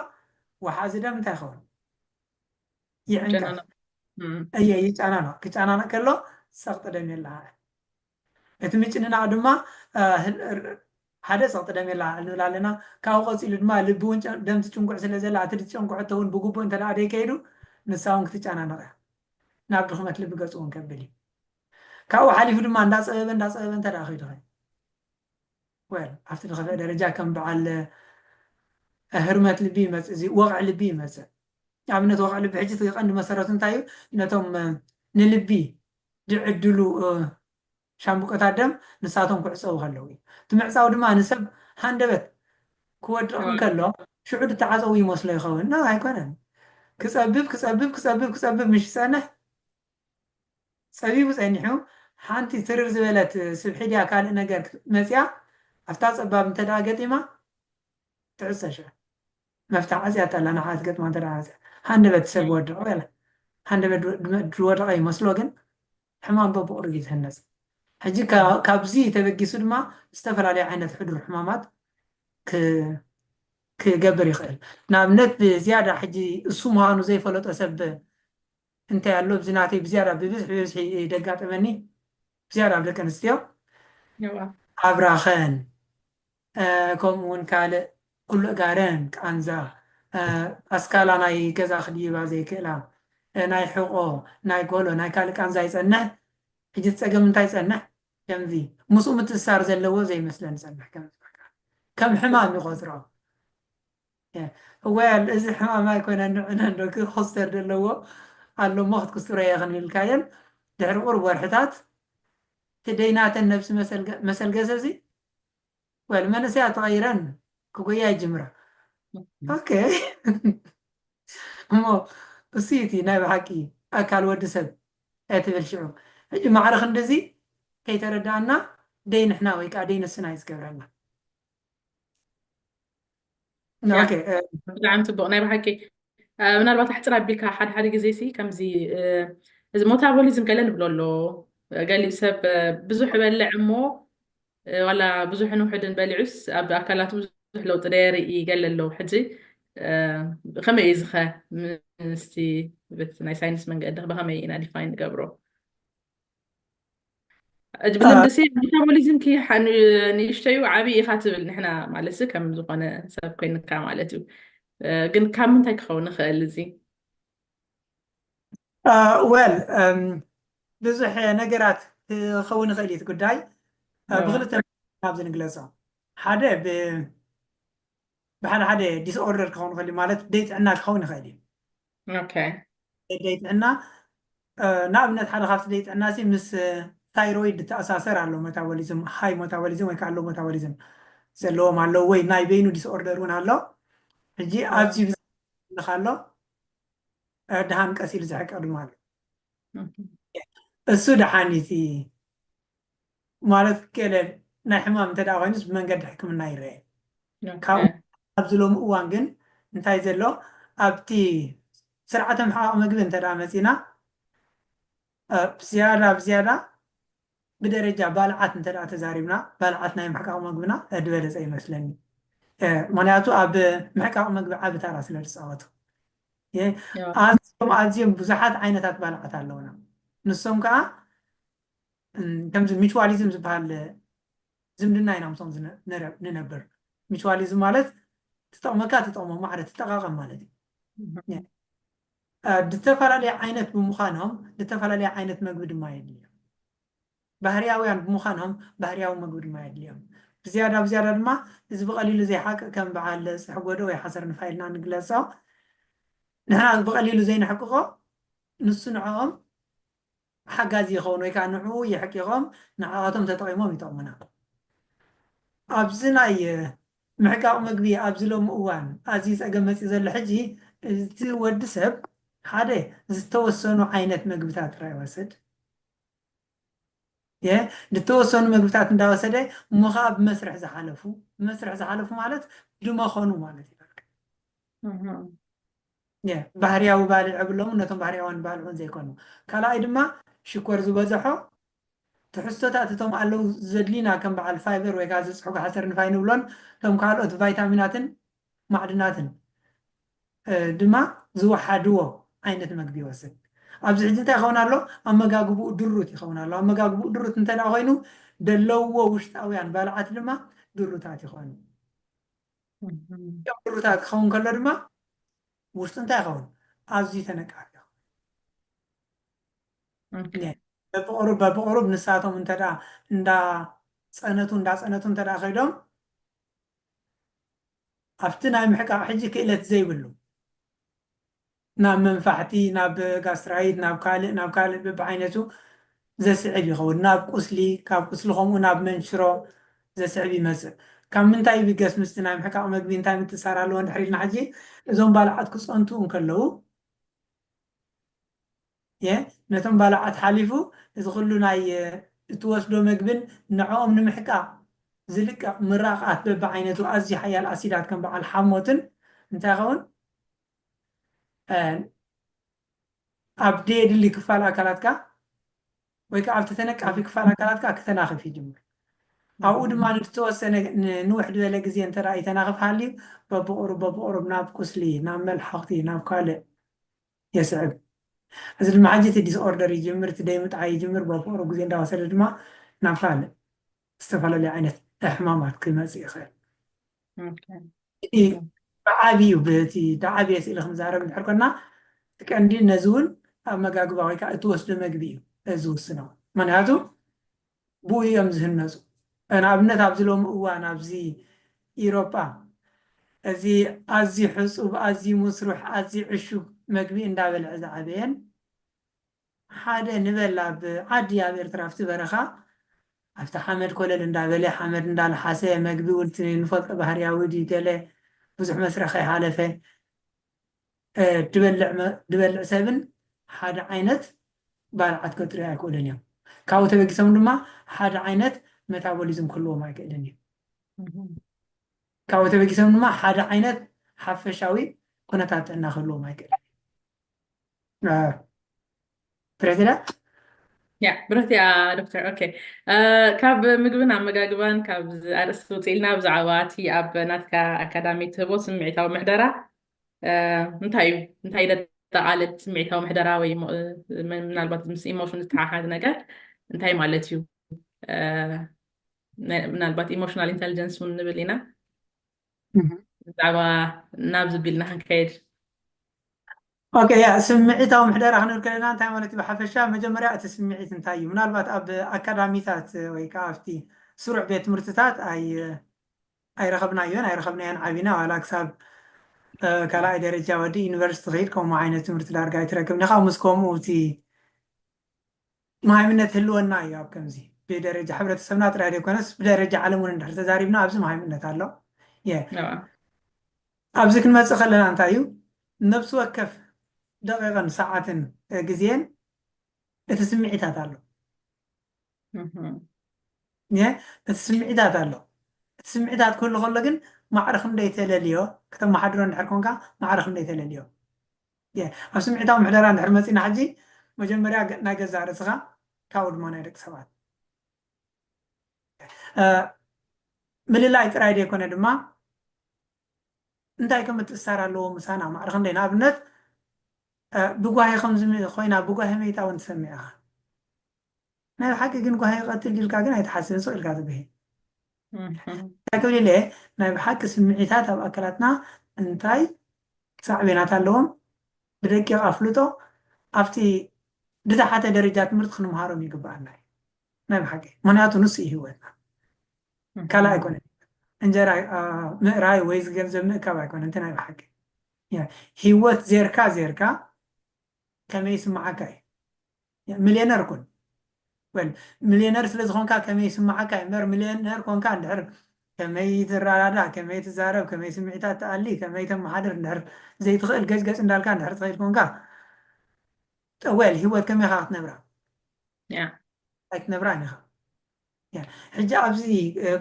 ወሓዚ ደም እንታይ ይኸውን ይዕንቀፍ እየ ይጫናነቕ ክጫናነቕ ከሎ ሰቕጢ ደም የለሃ እቲ ምጭንናቕ ድማ ሓደ ጸቕጢ ደም የላ ንብል ኣለና። ካብኡ ቀጺሉ ድማ ልቢ እውን ደም ትጭንጉዕ ስለ ዘላ እቲ ዝጨንጉዐቶ እውን ብግቡእ እንተደኣ ዘይከይዱ ንሳ እውን ክትጨናነቕ እያ። ናብ ድኽመት ልቢ ገጹ እውን ከብል እዩ። ካብኡ ሓሊፉ ድማ እንዳጸበበ እንዳጸበበ እንተደኣ ከይዱኸ ወል ኣብቲ ዝኸፍአ ደረጃ ከም በዓል ህርመት ልቢ ይመጽእ እዚ ወቕዒ ልቢ ይመጽእ። ኣብነት ወቕዒ ልቢ ሕጂ እቲ ቀንዲ መሰረቱ እንታይ እዩ ነቶም ንልቢ ዝዕድሉ ሻምብቆታት ደም ንሳቶም ክዕጸዉ ከለዉ እዩ። እቲ ምዕጻው ድማ ንሰብ ሃንደበት ክወድቕ እንከሎ ሽዑ ዝተዓጸዉ ይመስሎ ይኸውን። ን ኣይኮነን። ክጸብብ ክጸብብ ክጸብብ ክጸብብ ምስ ዝጸንሕ ጸቢቡ ጸኒሑ ሓንቲ ትርር ዝበለት ስብሒ ድያ ካልእ ነገር መጺኣ ኣብታ ጸባብ እንተድኣ ገጢማ ትዕጸ ሽዑ። መፍትሕ ዓጽያቶ ኣላ ንዓኣ ዝገጥማ እንተ ዓጽያ ሃንደበት ሰብ ወድቕ በለ ሃንደበት ድወደቐ ይመስሎ ግን ሕማም በብቑሩብ እዩ ዝህነጽ ሕጂ ካብዚ ተበጊሱ ድማ ዝተፈላለዩ ዓይነት ሕዱር ሕማማት ክገብር ይኽእል ንኣብነት ብዝያዳ ሕጂ እሱ ምዃኑ ዘይፈለጦ ሰብ እንታይ ኣሎ ብዚ ናተይ ብዝያዳ ብብዝሒ ብብዝሒ ደጋጠመኒ ብዝያዳ ኣብ ደቂ ኣንስትዮ ኣብራኸን ከምኡ ውን ካልእ ኩሉ ጋረን ቃንዛ ኣስካላ ናይ ገዛ ክድይባ ዘይክእላ ናይ ሕቆ ናይ ጎሎ ናይ ካልእ ቃንዛ ይጸንሕ ሕጂ እቲ ጸገም እንታይ ይጸንሕ ከምዚ ምስኡ ምትእስሳር ዘለዎ ዘይመስለኒ ይጸንሕ ከምዚ በቃ ከም ሕማም ይቆጽሮ ወል እዚ ሕማም ኣይኮነን ንዕነን ዶ ክኹስተር ዘለዎ ኣሎ እሞ ክትኩስትሮ እየ ክንብልካየን ድሕሪ ቁርብ ወርሕታት እቲ ደይናተን ነብሲ መሰልገሰ እዚ ወል መንእሰያት ተቐይረን ክጎያ ይጅምራ ኦኬ እሞ እሱዩ እቲ ናይ ብሓቂ ኣካል ወዲ ሰብ ትብል ሽዑ ሕጂ ማዕረ ክንድዚ ከይተረዳእና ደይ ንሕና ወይ ከዓ ደይ ንስና እዩ ዝገብረና ብጣዕሚ ፅቡቅ ናይ ብሓቂ ምናልባት ኣሕፅር ኣቢልካ ሓደ ሓደ ግዜ ሲ ከምዚ እዚ ሞታቦሊዝም ገለ ንብሎ ኣሎ ገሊኡ ሰብ ብዙሕ በልዕ እሞ ዋላ ብዙሕን ውሕድን በሊዑስ ኣብ ኣካላቱ ብዙሕ ለውጢ ደየርኢ ገለ ኣሎ ሕጂ ከመይ እዩ ዝኸ ምስቲ ናይ ሳይንስ መንገዲ ብከመይ ኢና ዲፋይን ንገብሮ ብልምዲ ሲ ሜታቦሊዝም ክይሓ ንእሽተዩ ዓብዪ ኢኻ ትብል ንሕና ማለት ሲ ከም ዝኾነ ሰብ ኮይንካ ማለት እዩ ግን ካብ ምንታይ ክኸውን ይኽእል እዚ ወል ብዙሕ ነገራት ክኸውን ይኽእል እዩ ጉዳይ ብክልተ ናብዚ ንግለፆ ሓደ ብሓደ ሓደ ዲስኦርደር ክኸውን ይኽእል ማለት ደይ ጥዕና ክኸውን ይኽእል እዩ ደይ ጥዕና ንኣብነት ሓደ ካብቲ ደይ ጥዕና ሲ ምስ ታይሮይድ ተኣሳሰር ኣሎ ሞታቦሊዝም ሃይ ሞታቦሊዝም ወይ ከዓ ሎ ሞታቦሊዝም ዘለዎም ኣለዉ ወይ ናይ በይኑ ዲስኦርደር እውን ኣሎ ሕጂ ኣብዚ ብዝልካ ኣሎ ድሃን ቀስ ኢሉ ዝሕቀ ድማ ኣሎ እሱ ደሓን እቲ ማለት ገለ ናይ ሕማም እንተድኣ ኮይኑስ ብመንገዲ ሕክምና ይረኤ። ካብኡ ኣብዚ ሎሚ እዋን ግን እንታይ ዘሎ ኣብቲ ስርዓተ ምሕቓቕ መግቢ እንተድኣ መጺእና ብ ዝያዳ ብ ዝያዳ ብደረጃ ባልዓት እንተድኣ ተዛሪብና ባልዓት ናይ ምሕቃቕ መግብና ድበለጸ ይመስለኒ። ምኽንያቱ ኣብ ምሕቃቕ መግቢ ዓቢ ታራ ስለ ድጻወቱ። ኣዝዮም ኣዝዮም ብዙሓት ዓይነታት ባልዓት ኣለዉና። ንሶም ከኣ ከምዚ ሚቹዋሊዝም ዝበሃል ዝምድና ኢና ምስኦም ንነብር። ሚቹዋሊዝም ማለት ትጠቕመካ ትጠቕሞ ማዕረ ትጠቓቐም ማለት እዩ። ዝተፈላለየ ዓይነት ብምዃኖም ዝተፈላለየ ዓይነት መግቢ ድማ የድልዮም ባህርያውያን ብምዃኖም ባህርያዊ መግቢ ድማ የድልዮም ብዝያዳ ብዝያዳ ድማ እዚ ብቐሊሉ ዘይሓቅ ከም በዓል ፅሕ ጎዶ ወይ ሓሰር ንፋ ኢልና ንግለፆ ንሕና ብቐሊሉ ዘይንሕቅቆ ንሱ ንዕኦም ሓጋዚ ይኸውን ወይ ከኣ ንዕኡ የሕቂቖም ንዓኣቶም ተጠቒሞም ይጠቕሙና። ኣብዚ ናይ ምሕቃቕ ምግቢ ኣብዚ ሎሚ እዋን ኣዝዩ ጸገም መጺኡ ዘሎ ሕጂ እቲ ወዲ ሰብ ሓደ ዝተወሰኑ ዓይነት ምግብታት ጥራይ ይወስድ እየ ዝተወሰኑ ምግብታት እንዳወሰደ እሞ ከኣ ብመስርሕ ዝሓለፉ ብመስርሕ ዝሓለፉ ማለት ድመኸኑ ማለት እዩ በቃ። ኘ ባህርያዊ ባልዕ እብሎምን ነቶም ባህርያውያን ባልዑን ዘይኮኑ። ካልኣይ ድማ ሽኮር ዝበዘሖ ትሕዝቶታት እቶም ኣለው ዘድልዩና ከም በዓል ፋይበር ወይ ከኣ ዝጽሕጎ ሓሰር ንፋይ ንብሎን እቶም ካልኦት ቫይታሚናትን ማዕድናትን ድማ ዝወሓድዎ ዓይነት መግቢ ይወስድ። ኣብዚ ሕጂ እንታይ ይኸውን ኣሎ? ኣመጋግብኡ ድሩት ይኸውን ኣሎ። ኣመጋግብኡ ድሩት እንተድኣ ኮይኑ ደለውዎ ውሽጣውያን ባልዓት ድማ ድሩታት ይኾኑ። ሩታ ክኸውን ከሎ ድማ ውሽጡ እንታይ ይኸውን ኣዝዩ ተነቃፊ በብቕሩብ በብቕሩብ ንሳቶም እንተ እንዳፀነቱ እንዳፀነቱ እንተ ከይዶም ኣብቲ ናይ ምሕቃቕ ሕጂ ክእለት ዘይብሉ ናብ መንፋሕቲ፣ ናብ ጋስትራይት፣ ናብ ካልእ ናብ ካልእ በብዓይነቱ ዘስዕብ ይኸውን። ናብ ቁስሊ፣ ካብ ቁስሊ ከምኡ ናብ መንሽሮ ዘስዕብ ይመጽእ። ካብ ምንታይ ይብገስ ምስቲ ናይ ምሕቃቕ መግቢ እንታይ ምትእስሳር ኣለዎ እንድሕር ኢልና ሕጂ፣ እዞም ባልዓት ክጸንቱ እንከለዉ እየ፣ ነቶም ባልዓት ሓሊፉ እዚ ኩሉ ናይ እትወስዶ መግብን ንዕኦም ንምሕቃቕ ዝልቀቕ ምራቕ ኣፍ በብዓይነቱ ኣዝዩ ሓያል ኣሲዳት ከም በዓል ሓሞትን እንታይ ይኸውን? ኣብ ደየድሊ ክፋል ኣካላትካ ወይ ከዓ ኣብቲ ተነቃፊ ክፋል ኣካላትካ ክተናኽፍ ይጅምር ኣብኡ ድማ ንዝተወሰነ ንውሕድ በለ ግዜ እንተ ይተናኽፍ ሃልዩ በብቑሩብ በብቑሩብ ናብ ቁስሊ ናብ መልሓኽቲ ናብ ካልእ የስዕብ እዚ ድማ ሕጂ እቲ ዲስኦርደር ይጅምር እቲ ደይ ምጥዓይ ይጅምር በብቑሩብ ግዜ እንዳወሰደ ድማ ናብ ካልእ ዝተፈላለየ ዓይነት ሕማማት ክመፅእ ይኽእል እቲ ብዓብዩ በቲ ዳዓብየ ስእሊ ክንዛረብ እንድሕር ኮና እቲ ቀንዲ ነዚ እውን ኣመጋግባ ወይ ከዓ እትወስዶ መግቢ እዩ ዝውስኖ ምክንያቱ ብኡ እዮም ዝህነፁ ንኣብነት ኣብዚ ሎሚ እዋን ኣብዚ ኢሮጳ እዚ ኣዝዩ ሕፁብ ኣዝዩ ምስሩሕ ኣዝዩ ዕሹግ መግቢ እንዳበልዐ ዝዓበየን ሓደ ንበል ኣብ ዓዲ ኣብ ኤርትራ ኣብቲ በረኻ ኣብቲ ሓመድ ኮለል እንዳበለ ሓመድ እንዳልሓሰ መግቢ ውን እቲ ንፈልጦ ባህርያዊ ድዩ ገለ ብዙሕ መስርሕ ከይሓለፈ ድበልዕ ሰብን ሓደ ዓይነት ባልዓት ከጥርዩ ኣይክእሉን እዮም ካብኡ ተበጊሶም ድማ ሓደ ዓይነት መታቦሊዝም ክህልዎም ኣይክእልን እዩ ካብኡ ተበጊሶም ድማ ሓደ ዓይነት ሓፈሻዊ ኩነታት ጥዕና ክህልዎም ኣይክእልን እዩ ብረትዳ ያ ብረት እያ ዶክተር ኦኬ ካብ ምግብን ኣመጋግባን ካብ ኣርእስቲ ውፅእ ኢልና ብዛዕባ እቲ ኣብ ናትካ ኣካዳሚ ትህቦ ስምዒታዊ ምሕደራ እንታይ እዩ እንታይ ደጠቓልል ስምዒታዊ ምሕደራ ወይ ምናልባት ምስ ኢሞሽን ዝተሓሓዝ ነገር እንታይ ማለት እዩ ምናልባት ኢሞሽናል ኢንቴሊጀንስ እውን ንብል ኢና ብዛዕባ ናብዚ ቢልና ክንከይድ ኦኬ ያ ስምዒታዊ ምሕደራ ክንብል ከለና እንታይ ማለት እዩ ብሓፈሻ መጀመርያ እቲ ስምዒት እንታይ እዩ ምናልባት ኣብ ኣካዳሚታት ወይ ከዓ ኣብቲ ስሩዕ ቤት ትምህርትታት ኣይረኸብናዮን ኣይረኸብናዮን ዓቢና ዋላ ክሳብ ካልኣይ ደረጃ ወዲ ዩኒቨርሲቲ ከይድ ከምኡ ዓይነት ትምህርቲ ዳርጋ ኣይትረክብን ኢኻ ምስ ከምኡ እቲ መሃይምነት ህልወና እዩ ኣብ ከምዚ ብደረጃ ሕብረተሰብና ጥራይ ዘይኮነስ ብደረጃ ዓለም እውን እንድሕር ተዛሪብና ኣብዚ መሃይምነት ኣሎ ኣብዚ ክንመፅእ ከለና እንታይ እዩ ነብሲ ወከፍ ደቂቕን ሰዓትን ግዜን እቲ ስምዒታት ኣሎ እቲ ስምዒታት ኣሎ እቲ ስምዒታት ክህሉ ከሎ ግን ማዕረ ክንደይ ተለልዮ ክተመሓድሮ እንድሕር ኮንካ ማዕረ ክንደይ ተለልዮ እየ ኣብ ስምዒታዊ ምሕደራ እንድሕር መጺና ሕጂ መጀመርያ ናይ ገዛእ ርእስኻ ካብኡ ድማ ናይ ደቂ ሰባት ምልላይ ጥራይ ዘይኮነ ድማ እንታይ ከም እትእሳር ኣለዎ ምሳና ማዕረ ክንደይ ንኣብነት ብጓሂ ከምዚ ኮይና ብጓሂ መይታ እውን ትሰምዕ ኢኻ ናይ ብሓቂ ግን ጓሂ ይቀትል ዲልካ ግን ኣይትሓስብን ስቅ ኢልካ ትጉሂ እንታይ ክብል ኢለ ናይ ብሓቂ ስምዒታት ኣብ ኣካላትና እንታይ ሳዕቤናት ኣለዎም ብደቂቅ ኣፍልጦ ኣብቲ ድታሓተ ደረጃ ትምህርቲ ክንምሃሮም ይግብኣና እዩ ናይ ብሓቂ ምክንያቱ ንሱ እዩ ሂወትና ካልእ ኣይኮነን እንጀራ ምእራይ ወይ ዝገንዘብ ምእካብ ኣይኮነ እንተ ናይ ብሓቂ ሂወት ዜርካ ዜርካ ከመይ ይስምዓካ እዩ ምልየነር ኩን ወል ምልየነር ስለ ዝኾንካ ከመይ ይስምዓካ እዩ እምበር ምልየነር ኮንካ እንድሕር ከመይ ትረዳዳእ ከመይ ትዛረብ ከመይ ስምዒታት ትኣሊ ከመይ ተመሓድር እንድሕር ዘይትኽእል ገጭ ገጭ እንዳልካ እንድሕር ትኸይድ ኮንካ ጠወል ሂወት ከመይ ኢኻ ክትነብራ ኣይትነብራን ኢኻ ሕጂ ኣብዚ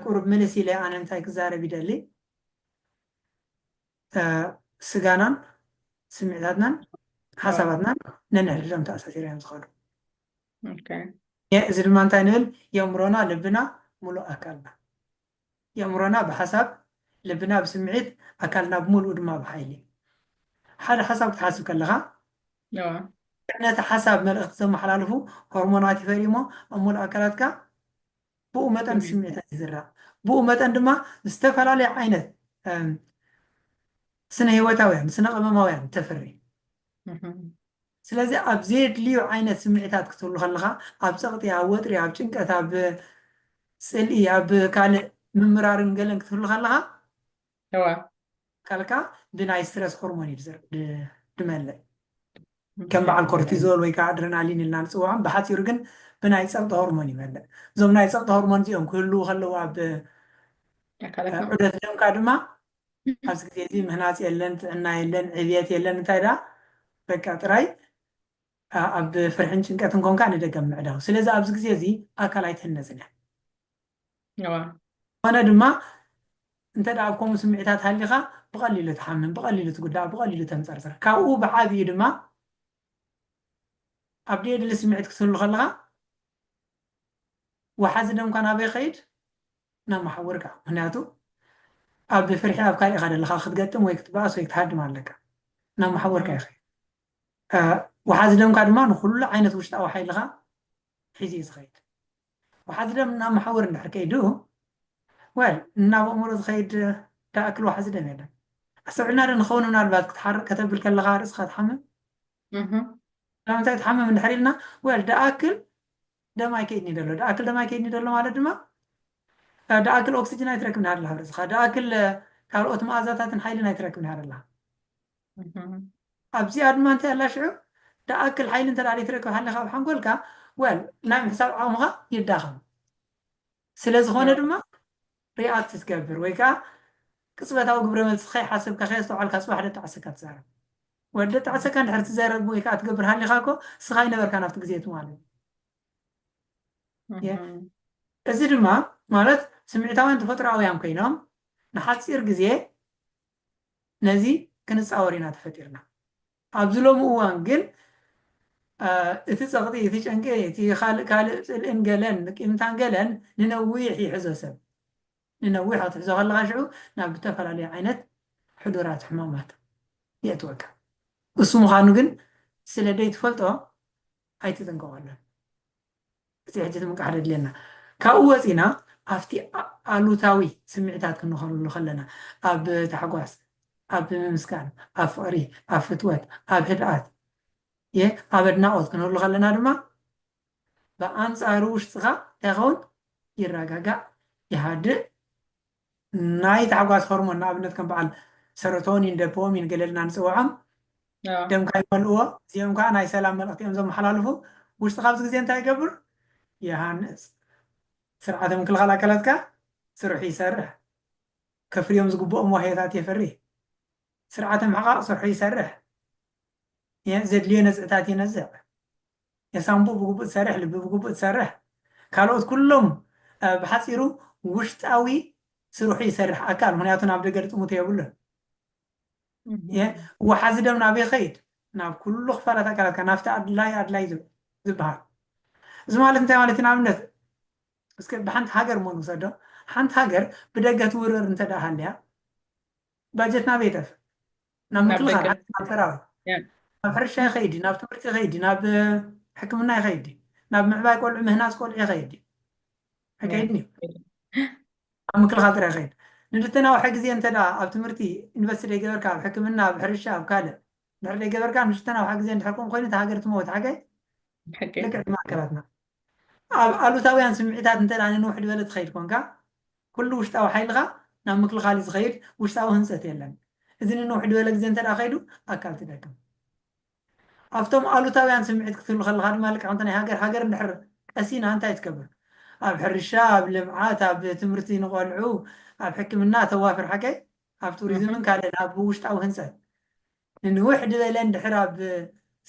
ቁሩብ ምልስ ኢለ ኣነ እንታይ ክዛረብ ይደሊ ስጋናን ስምዒታትናን ሓሳባትናን ነንሕድሕዶም ተኣሳሲሮ እዮም ዝኸዱ እዚ ድማ እንታይ ንብል የእምሮና ልብና ሙሉእ ኣካልና የእምሮና ብሓሳብ ልብና ብስምዒት ኣካልና ብምሉእ ድማ ብሓይሊ ሓደ ሓሳብ ክትሓስብ ከለኻ ነቲ ሓሳብ መልእኽቲ ዘመሓላልፉ ሆርሞናት ይፈሪ እሞ ኣብ ሙሉእ ኣካላትካ ብኡ መጠን ስምዒታት ይዝረቕ። ብኡ መጠን ድማ ዝተፈላለዩ ዓይነት ስነ ህይወታውያን፣ ስነ ቅመማውያን ተፍሪ። ስለዚ ኣብ ዘየድልዩ ዓይነት ስምዒታት ክትህሉ ከለኻ ኣብ ጸቕጢ፣ ኣብ ወጥሪ፣ ኣብ ጭንቀት፣ ኣብ ጽልኢ፣ ኣብ ካልእ ምምራርን ገለን ክትህሉ ከለኻ እወ። ኣካልካ ብናይ ስትረስ ሆርሞን እዩ ድመልእ። ከም በዓል ኮርቲዞል ወይ ከዓ ኣድረናሊን ኢልና ንፅውዖም፣ ብሓፂሩ ግን ብናይ ፀቕጢ ሆርሞን ይመልእ። እዞም ናይ ፀቕጢ ሆርሞን እዚኦም ክህልዉ ከለዉ ኣብ ኣካላትና ዑደት ደምካ ድማ ኣብዚ ግዜ እዚ ምህናፅ የለን፣ ጥዕና የለን፣ ዕብየት የለን፣ እንታይ ደኣ በቃ ጥራይ ኣ- ኣብ ፍርሕን ጭንቀትን ኮንካ ንደገ ምዕዳው። ስለዚ ኣብዚ ግዜ እዚ ኣካል ኣይትህነፅን እያ። ኮነ ድማ እንተ ኣብ ከምኡ ስምዒታት ሃሊኻ ብቐሊሉ ትሓምም፣ ብቐሊሉ ትጉዳእ፣ ብቐሊሉ ተንጸርጽር። ካብኡ ብዓቢኡ ድማ ኣብ ደየድሊ ስምዒት ክትህሉ ከለኻ ወሓዚ ደምካ ናበይ ይኸይድ? ናብ መሓውርካ። ምክንያቱ ኣብ ብፍርሒ ኣብ ካልእ ኢኻ ዘለኻ ክትገጥም ወይ ክትበኣስ ወይ ክትሃድም ኣለካ። ናብ መሓውርካ ይኸይድ። ወሓዚ ደምካ ድማ ንኹሉ ዓይነት ውሽጣዊ ሓይልኻ ሒዙ እዩ ዝኸይድ። ዋሕዚ ደም እናመሓወሩ እንድሕር ከይዱ well ናብ ኣእምሮ ዝኸይድ ዝኣክል ዋሕዚ ደም የለን። ኣስተውዒልና ዶ ንኸውን ምናልባት ክትሓርቅ ከተብል ከለኻ ርእስኻ ትሓምም ስለምንታይ ትሓምም እንድሕር ኢልና well ዝኣክል ደም ኣይከይድኒ ደሎ ዝኣክል ደም ኣይከይድኒ ደሎ ማለት ድማ ዝኣክል ኦክሲጅን ኣይትረክብን ሃደላ ኣብ ርእስኻ ዝኣክል ካልኦት መኣዛታትን ሓይልን ኣይትረክብን ሃደላ ኣብዚ ኣድማ እንታይ ኣላ ሽዑ ድኣክል ሓይሊ እንተ ዘይትረክብ ሃሊኻ ኣብ ሓንጎልካ well ናይ ምሕሳብ ዓቕምኻ ይዳኸም ስለ ዝኾነ ድማ ሪኣክት ትገብር ወይ ከዓ ቅፅበታዊ ግብረ መልሲ ከይሓሰብካ ከየስተውዓልካ ፅባሕ ደጣዕሰካ ትዛረብ ወዲ ደጣዕሰካ እንድሕር ትዘረብ ወይ ከዓ ትገብር ሃሊኻ እኮ ስኻ ይነበርካ ናብቲ ግዜ እቲ ማለት እዚ ድማ ማለት ስምዒታውያን ተፈጥሮኣውያን ኮይኖም ንሓፂር ግዜ ነዚ ክንጻወር ኢና ተፈጢርና። ኣብዚ ሎሚ እዋን ግን እቲ ጸቕጢ፣ እቲ ጭንቂ፣ እቲ ካልእ ካልእ ጽልእን ገለን ቂምታን ገለን ንነዊሕ ይሕዞ ሰብ። ንነዊሕ ክትሕዞ ከለኻ ሽዑ ናብ ዝተፈላለዩ ዓይነት ሕዱራት ሕማማት የእትወካ። እሱ ምዃኑ ግን ስለ ደይትፈልጦ ኣይትጥንቀቐሉን። እቲ ሕጂ ምንቃሕ ደድልየና። ካብኡ ወጺእና ኣብቲ ኣሉታዊ ስምዒታት ክንኸለሉ ከለና፣ ኣብ ታሕጓስ፣ ኣብ ምምስጋን፣ ኣብ ፍቕሪ፣ ኣብ ፍትወት፣ ኣብ ህድኣት፣ እየ ኣብ ኣድናቖት ክንህሉ ከለና ድማ ብኣንጻሩ ውሽጥኻ እንታይ ይኸውን? ይረጋጋእ፣ ይሃድእ፣ ናይ ታሕጓስ ሆርሞን ንኣብነት ከም በዓል ሰሮቶኒን ደፖሚን ገለ ኢልና ንጽውዖም ኣዎ። ደምካ ይመልእዎ እዚኦም ከዓ ናይ ሰላም መልእኽቲ እዮም ዘመሓላልፉ ውሽጥኻ ኣብዚ ግዜ እንታይ ይገብር ይሃንጽ ስርዓተ ምክልኻል ኣካላትካ ስርሑ ይሰርሕ ከፍርዮም ዝግብኦም ዋህዮታት የፍሪ ስርዓተ ምሕቓቕ ስርሑ ይሰርሕ የ- ዘድልዮ ነዝዕታት ይነዝዕ የሳንቡእ ብግቡእ ትሰርሕ፣ ልቢ ብግቡእ ትሰርሕ፣ ካልኦት ኩሎም ብሓጺሩ ውሽጣዊ ስርሑ ይሰርሕ ኣካል ምክንያቱ ናብ ደገ ልጥሙቶ የብሉን። እየ ወሓዚ ደም ናብ ይኸይድ ናብ ኩሉ ክፋላት ኣካላትካ ናብቲ ኣድላይ ኣድላይ ዝበሃል እዚ ማለት እንታይ ማለት ንኣብነት እስከ ብሓንቲ ሃገር እሞ ንውሰዶ ሓንቲ ሃገር ብደገ ትውረር እንተ ሃልያ ባጀት ናበይ ይጠፍእ? ናብ ምክልኻል ሃገር፣ ናብ ሰራዊት፣ ናብ ሕርሻ ይኸይድ ድዩ? ናብ ትምህርቲ ይኸይድ ድዩ? ናብ ሕክምና ይኸይድ ድዩ? ናብ ምዕባይ ቆልዑ፣ ምህናፅ ቆልዑ ይኸይድ ድዩ? ኣይከይድን እዩ። ኣብ ምክልኻል ጥራይ ይኸይድ። ንልተናውሐ ግዜ እንተ ኣብ ትምህርቲ ኢንቨስት ደይገበርካ፣ ኣብ ሕክምና፣ ኣብ ሕርሻ፣ ኣብ ካልእ ድሕር ደይገበርካ ንልተናውሐ ግዜ እንድሕር ከምኡ ኮይኑ እታ ሃገር ትመውት ሓገይ ልክዕ ከም ኣከላትና ኣብ ኣሉታውያን ስምዒታት እንተ ንንውሕ ድበለ ትኸይድ ኮንካ፣ ኩሉ ውሽጣዊ ሓይልኻ ናብ ምክልኻል እዩ ዝኸይድ፣ ውሽጣዊ ህንጸት የለን። እዚ ንንውሕ ድበለ ግዜ እንተ ከይዱ ኣካል ትደክም። ኣብቶም ኣሉታውያን ስምዒት ክትህሉ ከለኻ ድማ ልክዕ ከምቲ ናይ ሃገር ሃገር እንድሕር ቀሲና እንታይ ትገብር? ኣብ ሕርሻ፣ ኣብ ልምዓት፣ ኣብ ትምህርቲ ንቆልዑ፣ ኣብ ሕክምና ተዋፍር ሓቀይ? ኣብ ቱሪዝምን ካልእን ኣብ ውሽጣዊ ህንጸት ንንውሕ ድበለ እንድሕር ኣብ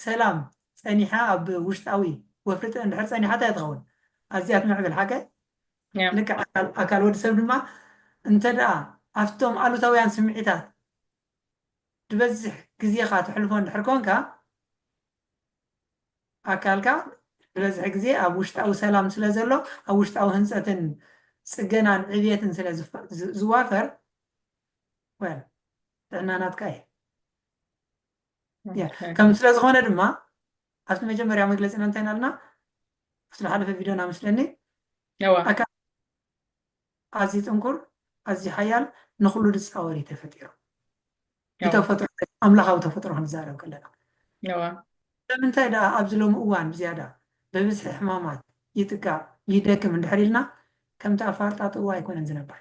ሰላም ጸኒሓ ኣብ ውሽጣዊ ወፍሪ ጥረ እንድሕር ጸኒሓ እንታይ ትኸውን ኣዝያ ትምዕብል ሓቀ ልክዕ ኣካል ኣካል ወዲ ሰብ ድማ እንተደኣ ኣብቶም ኣሉታውያን ስምዒታት ድበዝሕ ግዜኻ ተሕልፎ እንድሕር ኮንካ ኣካልካ ዝበዝሕ ግዜ ኣብ ውሽጣዊ ሰላም ስለ ዘሎ ኣብ ውሽጣዊ ህንፀትን ፅገናን ዕብየትን ስለ ዝዋፈር ወል ጥዕና ናትካ እዩ ከም ስለ ዝኾነ ድማ ኣብቲ መጀመርያ መግለፂና እንታይ ናልና ኣብቲ ዝሓለፈ ቪድዮና ምስለኒ ኣካል ኣዝዩ ጥንኩር ኣዝዩ ሓያል ንኩሉ ዝፃወር እዩ ተፈጢሩ ብተፈጥሮ ኣምላኻዊ ተፈጥሮ ክንዛረብ ከለና ስለምንታይ ደኣ ኣብዚ ሎሚ እዋን ብዝያዳ ብብዝሒ ሕማማት ይጥቃዕ ይደክም እንድሕር ኢልና ከምቲ ኣፋርጣጥዎ ኣይኮነን ዝነብር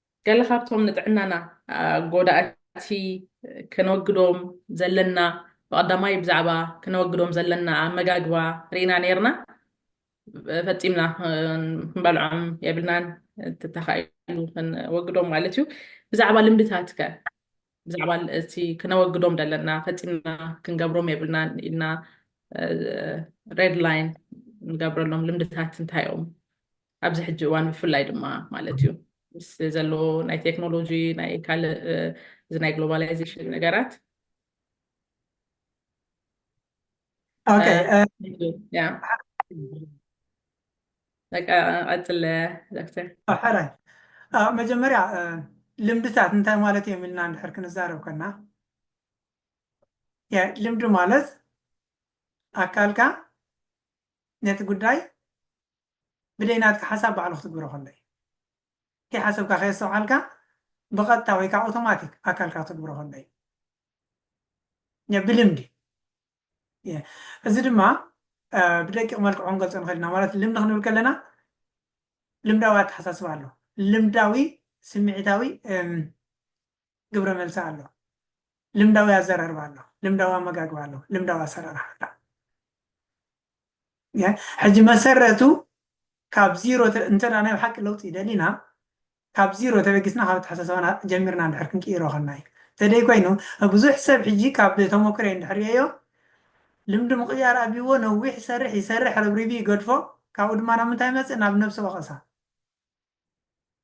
ገለ ካብቶም ንጥዕናና ጎዳእቲ ከነወግዶም ዘለና ብቐዳማይ ብዛዕባ ክነወግዶም ዘለና ኣመጋግባ ርኢና ነይርና ፈፂምና ክንበልዖም የብልናን ተተኻኢሉ ክንወግዶም ማለት እዩ ብዛዕባ ልምድታት ከ ብዛዕባ እቲ ክነወግዶም ዘለና ፈፂምና ክንገብሮም የብልናን ኢልና ሬድ ላይን ንገብረሎም ልምድታት እንታይ እዮም ኣብዚ ሕጂ እዋን ብፍላይ ድማ ማለት እዩ ምስ ዘሎ ናይ ቴክኖሎጂ ናይ ካልእ እዚ ናይ ግሎባላይዜሽን ነገራት ቀፅለ ዶክተር ሓራይ መጀመርያ ልምድታት እንታይ ማለት እዮም ኢልና እንድሕር ክንዛረብ ከና ልምዲ ማለት ኣካልካ ነቲ ጉዳይ ብደይ ናትካ ሓሳብ ባዕሉ ክትግብሮ ከሎ እዩ። ከይሓሰብካ ከየስተውዓልካ ብቐጥታ ወይ ከኣ ኣውቶማቲክ ኣካልካ ክትግብሮ ከሎ እዩ። ብልምዲ እዚ ድማ ብደቂቕ መልክዑ ክንገልጾ ንኽእል ኢና ማለት ልምዲ ክንብል ከለና ልምዳዊ ኣተሓሳስባ ኣሎ ልምዳዊ ስምዒታዊ ግብረ መልሲ ኣሎ ልምዳዊ ኣዘራርባ ኣሎ ልምዳዊ ኣመጋግባ ኣሎ ልምዳዊ ኣሰራርሓ ኣሎ ሕጂ መሰረቱ ካብ ዚሮ እንተ ናይ ብሓቂ ለውጢ ደሊና ካብ ዚሮ ተበጊስና ካብ ኣተሓሳስባና ጀሚርና እንድሕር ክንቅይሮ ከና እዩ ተደይ ኮይኑ ብዙሕ ሰብ ሕጂ ካብ ተሞክሮ እንድሕር ሪኦዮ ልምዲ ምቕያር ኣብይዎ ነዊሕ ይሰርሕ ይሰርሕ ረብሪቢ ይገድፎ ካብኡ ድማ ናብ ምንታይ መፅእ ናብ ነብሰ ወቐሳ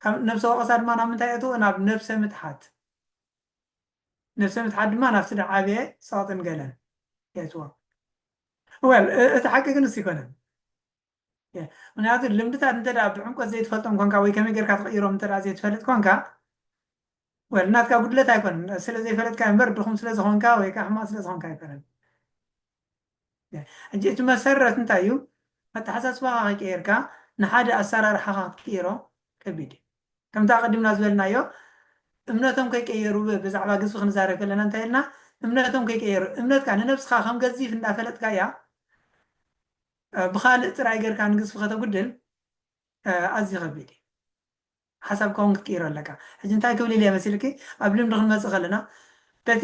ካብ ነብሰ ወቐሳ ድማ ናብ ምንታይ እትዎ ናብ ነብሰ ምትሓት ነብሰ ምትሓት ድማ ናብቲ ድዓበየ ጸቕጥን ገለን የእትዎ። Well እቲ ሓቂ ግን ንሱ ኣይኮነን። ምክንያቱ ልምድታት እንተ ብዕምቆት ዘይትፈልጦም ኮንካ ወይ ከመይ ጌርካ ትቕይሮም እንተ ዘይትፈልጥ ኮንካ ወል ናትካ ጉድለት ኣይኮነን ስለ ዘይፈለጥካ እምበር ድኹም ስለ ዝኾንካ ወይ ከዓ ሕማቕ ስለ ዝኾንካ ኣይኮነን። ሕጂ እቲ መሰረት እንታይ እዩ? ኣተሓሳስባኻ ከይቀየርካ ንሓደ ኣሰራርሓኻ ክትቅይሮ ከቢድ እዩ። ከምቲ ኣቐዲምና ዝበልናዮ እምነቶም ከይቀየሩ ብዛዕባ ግዝፊ ክንዛረብ ከለና እንታይ ኢልና? እምነቶም ከይቀየሩ፣ እምነትካ ንነብስኻ ከም ገዚፍ እንዳፈለጥካያ ብኻልእ ጥራይ ጌርካ ንግዝፊ ከተጉድል ኣዝዩ ከቢድ እዩ። ሓሳብካ እውን ክትቅይሮ ኣለካ። ሕጂ እንታይ ክብል ኢለ እየ መሲልኪ? ኣብ ልምዲ ክንመጽእ ከለና በቲ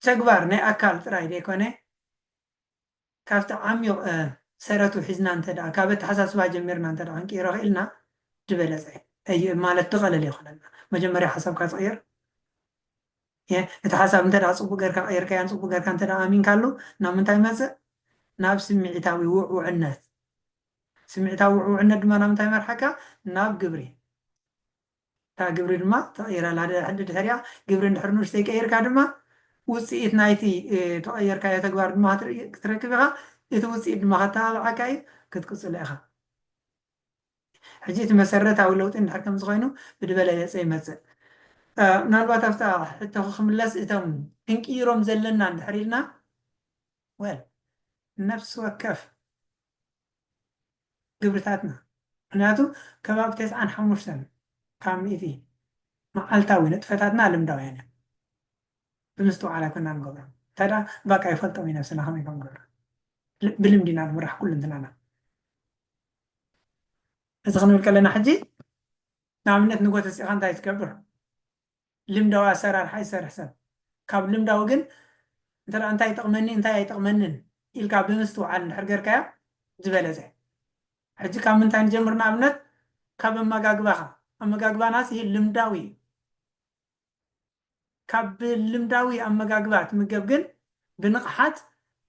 ተግባር ናይ ኣካል ጥራይ ዘይኮነ ካብቲ ዓሚቕ ሰረቱ ሒዝና እንተድኣ ካብ ኣተሓሳስባ ጀሚርና እንተድኣ ክንቅይሮ ክኢልና ዝበለጸ እዩ ማለት ዝቐለለ ይኾነልና። መጀመርያ ሓሳብካ ትቕይር እቲ ሓሳብ እንተድኣ ጽቡቕ ጌርካ ቀይርካዮን ጽቡቕ ጌርካ እንተድኣ ኣሚንካሉ ናብ ምንታይ ይመጽእ ናብ ስምዒታዊ ውዕውዕነት ስምዒታዊ ውዕውዕነት ድማ ናብ ምንታይ ይመርሓካ ናብ ግብሪ እታ ግብሪ ድማ ተቐይር ኣላ። ድሕሪኣ ግብሪ እንድሕር ንኡሽተይ ቀይርካ ድማ ውጽኢት ናይቲ እተቐየርካዮ ተግባር ድማ ክትረክብ ኢኻ። እቲ ውጽኢት ድማ ከተባብዓካ እዩ፣ ክትቅጽሎ ኢኻ። ሕጂ እቲ መሰረታዊ ለውጢ እንድሕር ከምዚ ኮይኑ ብድበለለጸ ይመጽእ። ምናልባት ኣብታ ሕቶኺ ክምለስ እቶም ክንቅይሮም ዘለና እንድሕር ኢልና well ነፍሲ ወከፍ። ግብርታትና ምክንያቱ ከባቢ ተስዓን ሓሙሽተን ካብ ሚእቲ መዓልታዊ ንጥፈታትና ልምዳውያን እዮም ብምስትውዓል ኣይኮናን ንገብሮም እንታይ ደኣ ባቃ ይፈልጦም እዩ ነብስና ከመይ ከም ንገብር ብልምዲ ኢና ንምራሕ ኩሉንትናና እዚ ክንብል ከለና ሕጂ ንኣብነት ንጎተሲእኻ እንታይ ትገብር ልምዳዊ ኣሰራርሓ ይሰርሕ ሰብ። ካብ ልምዳዊ ግን እንተ እንታይ ይጠቕመኒ እንታይ ኣይጠቕመንን ኢልካ ብምስትውዓል እንድሕር ጌርካዮ ዝበለጸ። ሕጂ ካብ ምንታይ ንጀምር ንኣብነት ካብ ኣመጋግባኻ ኣመጋግባና ስሂል ልምዳዊ እዩ። ካብ ብልምዳዊ ኣመጋግባ ትምገብ ግን ብንቕሓት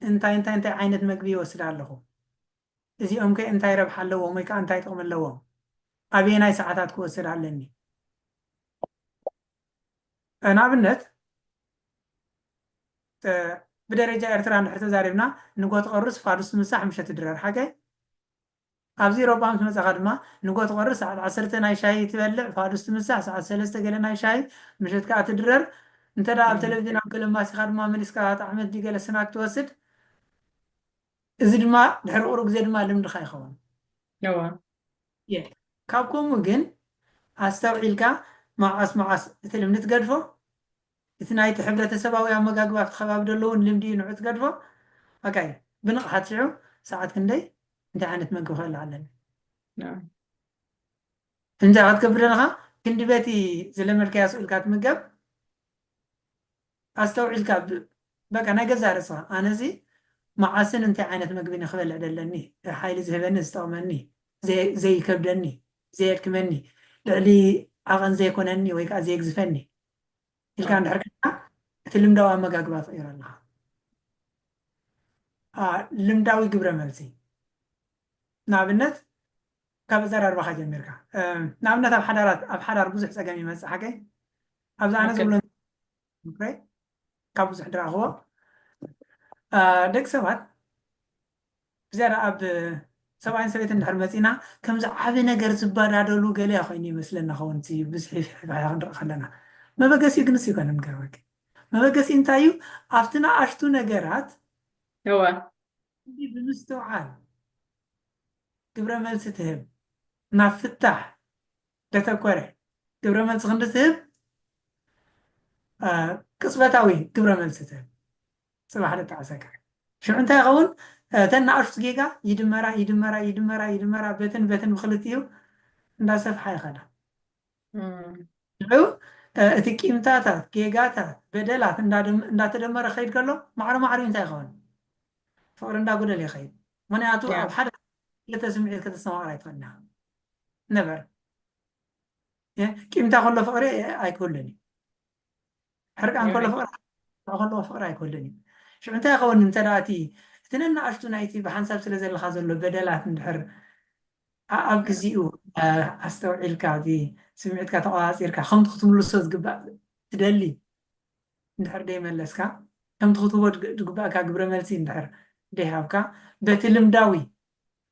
እንታይ እንታይ እንታይ ዓይነት መግቢ ይወስድ ኣለኹ እዚኦምከ እንታይ ረብሓ ኣለዎም ወይ ከኣ እንታይ ጥቕሚ ኣለዎም ኣበየናይ ሰዓታት ክወስድ ኣለኒ። ንኣብነት ብደረጃ ኤርትራ እንድሕር ተዛሪብና ንጎ ትቐርስ ፋዱስ ምሳሕ ምሸት ድራር ሓጋይ ኣብዚ ኢሮጳ ምስ መጻኻ ድማ ንጎ ትቐርስ ሰዓት ዓሰርተ ናይ ሻሂ ትበልዕ ፋዱስ ትምሳሕ ሰዓት ሰለስተ ገለ ናይ ሻሂ ምሸት ከኣ ትድረር እንተ ኣብ ተለቪዥን ኣብ ገለ ማሲኻ ድማ መሊስካ ጣዕመት ድዩ ገለ ስናክ ትወስድ እዚ ድማ ድሕሪ ቁሩብ ግዜ ድማ ልምድኻ ይኸውን። እወ። እየ። ካብ ከምኡ ግን ኣስተውዒልካ መዓስ መዓስ እቲ ልምዲ ትገድፎ፣ እቲ ናይቲ ሕብረተሰባዊ ኣመጋግባ ኣብቲ ከባቢ ዘሎ እውን ልምዲ እዩ ንዑ ትገድፎ፣ በቃ እዩ። ብንቕሓት ሽዑ ሰዓት ክንደይ እንታይ ዓይነት መግቢ ክበልዕ ኣለኒ። እወ። እንታይ ክትገብር ኣለኻ ክንዲ በቲ ዝለመድካዮ ኣስኡ ኢልካ ትምገብ። ኣስተውዒልካ ብ በቃ ናይ ገዛእ ርእስኻ ኣነሲ መዓስን እንታይ ዓይነት መግቢን ክበልዕ ደለኒ ሓይሊ ዝህበኒ ዝጠቕመኒ ዘይ ዘይከብደኒ ዘየድክመኒ ልዕሊ ዓቐን ዘይኮነኒ ወይ ከኣ ዘየግዝፈኒ ኢልካ እንድሕር ኮይንካ እቲ ልምዳዊ ኣመጋግባ ትቕይሮ ኣለኻ። a ልምዳዊ ግብረ መልሲ ንኣብነት ካብ ኣዘራርባኻ ጀሚርካ ንኣብነት ኣብ ሓዳራት ኣብ ሓዳር ብዙሕ ጸገም ይመጽእ ሓቀይ ኣብዚ ኣነ ዝብሎ ምክረይ ካብ ብዙሕ ድረኣኽዎ ደቂ ሰባት ብዝያዳ ኣብ ሰብኣይን ሰበይትን እንድሕር መፂና ከምዚ ዓብ ነገር ዝበዳደሉ ገለያ ኮይኑ ይመስለና ኸውን እቲ ብዝሒ ፍሕፍሕያ ክንርኢ ከለና መበገሲ ግንስ ይኮነ ንገርበኪ መበገሲ እንታይ እዩ ኣብቲ ንኣሽቱ ነገራት እወ ብምስትውዓል ግብረ መልሲ ትህብ ናብ ፍታሕ ደተኮረ ግብረ መልሲ ክንዲ ትህብ ቅፅበታዊ ግብረ መልሲ ትህብ ፅባሕ ደጣዕሰካ ሽዑ እንታይ ይኸውን እተን ንኣሽቱ ጌጋ ይድመራ ይድመራ ይድመራ ይድመራ በትን በትን ብክልቲኡ እንዳሰፍሓ ይኸዳ ሽዑ እቲ ቂምታታት ጌጋታት በደላት እንዳተደመረ ከይድ ከሎ ማዕረ ማዕሪኡ እንታይ ይኸውን ፍቅሪ እንዳጉደል ይኸይድ ምክንያቱ ኣብ ሓደ ክልተ ስምዒት ከተስተማቅር ኣይትኽእልና ነበር ቂምታ ከሎ ፍቅሪ ኣይክህሉን እዩ ሕርቃን ከሎ ፍቅሪ ከለዎ ፍቅሪ ኣይክህሉን እዩ ሽዑ እንታይ ይኸውን እንተ እቲ እቲ ነናእሽቱ ናይቲ ብሓንሳብ ስለ ዘለካ ዘሎ በደላት እንድሕር ኣብ ግዜኡ ኣስተውዒልካ እዚ ስምዒትካ ተቆፃፂርካ ከምቲ ክትምልሶ ዝግባእ ትደሊ እንድሕር ደይመለስካ ከምቲ ክትህቦ ዝግባእካ ግብረ መልሲ እንድሕር ደይሃብካ በቲ ልምዳዊ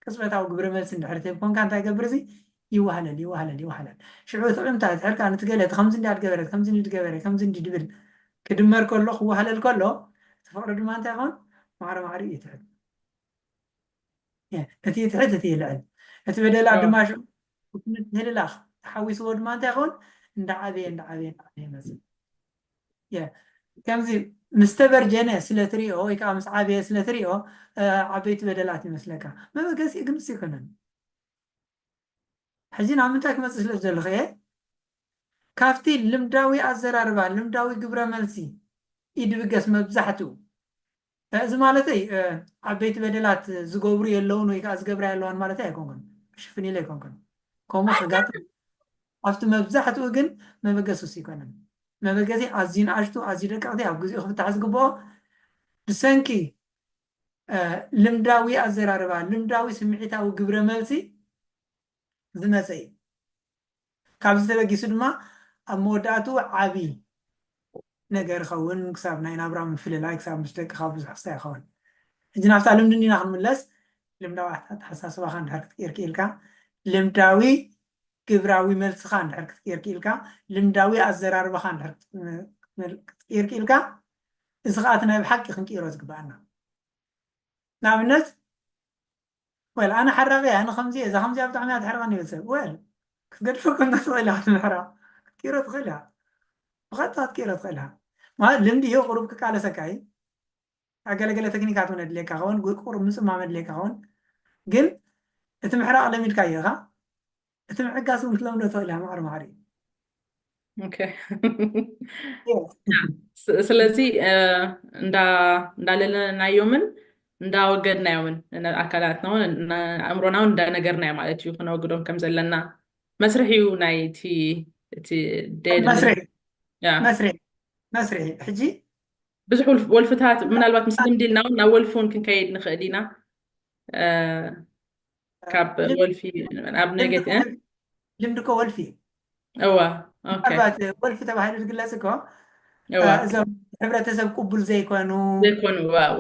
ቅጽበታዊ ግብረ መልሲ እንድሕር ትህብ ኮንካ እንታይ ይገብር እዚ ይዋህለል ይዋህለል ይዋህለል ሽዑ እቲ ዕምታ ድሕር ከኣ ንቲ ገለ እቲ ከምዚ እንድያ ድገበረት ከምዚ እንዲ ድገበረ ከምዚ እንዲ ድብል ክድመር ከሎ ክዋህለል ከሎ እቲ ፍቕሪ ድማ እንታይ ይኸውን ማዕረ ማዕሪኡ ይትሕት እቲ ይትሕት እቲ ይልዕል እቲ በደላት ድማ ሽዑ ምትህልላኽ ተሓዊስዎ ድማ እንታይ ይኸውን እንዳዓበየ እንዳዓበየ እንዳዓበየ ይመጽእ ከምዚ ምስ ተበርጀነ ስለ ትሪኦ ወይ ከዓ ምስ ዓበየ ስለ ትሪኦ ዓበይቲ በደላት ይመስለካ መበገሲ ግልፂ ይኮነን ሕዚ ናብ ምንታይ ክመፅእ ስለ ዘለኹ እየ ካብቲ ልምዳዊ ኣዘራርባ ልምዳዊ ግብረ መልሲ ኢድብገስ መብዛሕትኡ እዚ ማለተይ ዓበይቲ በደላት ዝገብሩ የለውን ወይ ከዓ ዝገብራ የለዋን ማለተይ ኣይኮንኩን። ሽፍን ኢለ ኣይኮንኩን። ከምኡ ከጋጥም ኣብቲ መብዛሕትኡ ግን መበገሲ እሱ ኣይኮነን። መበገሲ ኣዝዩ ንኣሽቱ ኣዝዩ ደቀቕቲ ኣብ ግዜኡ ክፍታሕ ዝግብኦ ብሰንኪ ልምዳዊ ኣዘራርባ፣ ልምዳዊ ስምዒታዊ ግብረ መልሲ ዝመጸ እዩ። ካብዚ ተበጊሱ ድማ ኣብ መወዳእትኡ ዓቢ ነገር ይኸውን፣ ክሳብ ናይ ናብራ ምፍልላይ፣ ክሳብ ምስ ደቅኻ ብዙሕ ክስታይ ይኸውን። ሕጂ ናብታ ልምዲ እንዲና ክንምለስ፣ ልምዳዊ ኣተሓሳስባኻ እንድሕር ክትቅይር ክኢልካ፣ ልምዳዊ ግብራዊ መልስኻ እንድሕር ክትቅይር ክኢልካ፣ ልምዳዊ ኣዘራርባኻ እንድሕር ክትቅይር ክኢልካ፣ እዚ ከኣ እቲ ናይ ብሓቂ ክንቅይሮ ዝግበኣና ንኣብነት Well ኣነ ሓራቂ እየ ኣነ ከምዚ እየ እዛ ከምዚኣ ብጣዕሚ እያ ተሕርቀኒ ይብል ሰብ well ክትገድፎ ከንዶ ትክእል ኢካ ንምሕራቅ ክትቅይሮ ትክእል ኢካ ብቀጥታ ክትቅይሮ ትክእል ኢካ ማለት ልምዲ እዩ ቁሩብ ክቃለሰካ እዩ ኣብ ገለ ገለ ተክኒካት እውን የድልየካ ከውን ቁሩብ ምጽማም የድልየካ ከውን ግን እቲ ምሕራቅ ለሚድካዮ ኢካ እቲ ምዕጋስ እውን ክትለምዶ ትኽእል እያ ማዕረ ማዕሪ ስለዚ እንዳለለናዮምን እንዳወገድናዮምን ኣካላትና እውን ኣእምሮና እውን እንዳነገርናዮ ማለት እዩ ክነወግዶም ከም ዘለና መስርሒ እዩ ናይ እቲ እቲ መስርሒ መስርሒ ሕጂ ብዙሕ ወልፍታት ምናልባት ምስ ልምዲ ኢልና እውን ናብ ወልፊ እውን ክንከይድ ንኽእል ኢና ካብ ወልፊ ኣብ ነገት ልምዲ እኮ ወልፊ እዋ ምናልባት ወልፊ ተባሂሉ ዝግለጽ እኮ እዞም ሕብረተሰብ ቅቡል ዘይኮኑ ዘይኮኑ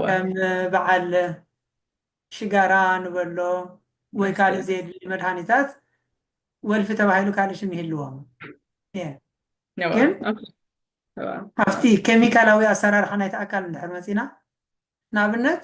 ከም በዓል ሽጋራ ንበሎ ወይ ካልእ ዘየድሊ መድሃኒታት ወልፊ ተባሂሉ ካልእ ሽም ይህልዎም ግን ኣብቲ ኬሚካላዊ ኣሰራርሓ ናይቲ ኣካል እንድሕር መፂና ንኣብነት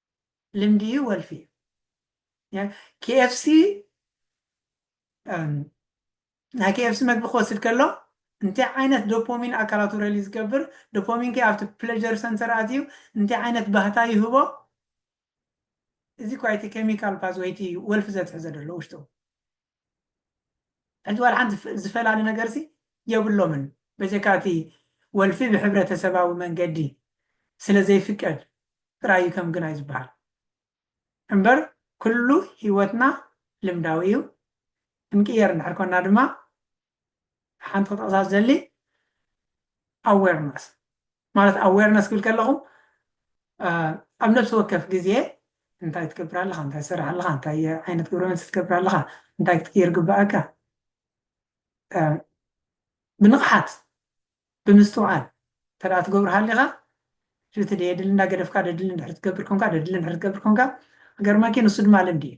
ልምዲ እዩ ወልፊ እዩ KFC ናይ KFC መግቢ ክወስድ ከሎ እንታይ ዓይነት ዶፖሚን ኣካላቱ ረሊ ዝገብር ዶፖሚን ከ ኣብቲ ፕለጀር ሰንተር ኣትዩ እንታይ ዓይነት ባህታ ይህቦ እዚ ኳ እቲ ኬሚካል ፓዝወይቲ ወልፊ ዘትሕዘ ዘሎ ውሽጡ ሕጂ ዋላ ሓንቲ ዝፈላሊ ነገርሲ የብሎምን በጀካ እቲ ወልፊ ብሕብረተሰባዊ መንገዲ ስለ ዘይፍቀድ ጥራይ እዩ ከም ግናይ ዝብሃል እምበር ኩሉ ሂወትና ልምዳዊ እዩ ክንቅየር እንድሕር ኮና ድማ ሓንቲ ክጠቕሳ ዝደሊ ኣዌርነስ ማለት ኣዌርነስ ክብል ከለኹ ኣብ ነብሲ ወከፍ ግዜ እንታይ ትገብር ኣለኻ እንታይ ትሰርሕ ኣለኻ እንታይ ዓይነት ግብረ መልሲ ትገብር ኣለኻ እንታይ ክትቅይር ግባኣካ ብንቕሓት ብምስትውዓል እንተደኣ ትገብሩ ሃሊኻ ሽቲ ደየድሊ እንዳገደፍካ ደድሊ እንድሕር ትገብር ኮንካ ደድሊ እንድሕር ትገብር ኮንካ ገርመኪ ንሱ ድማ ልምዲ እዩ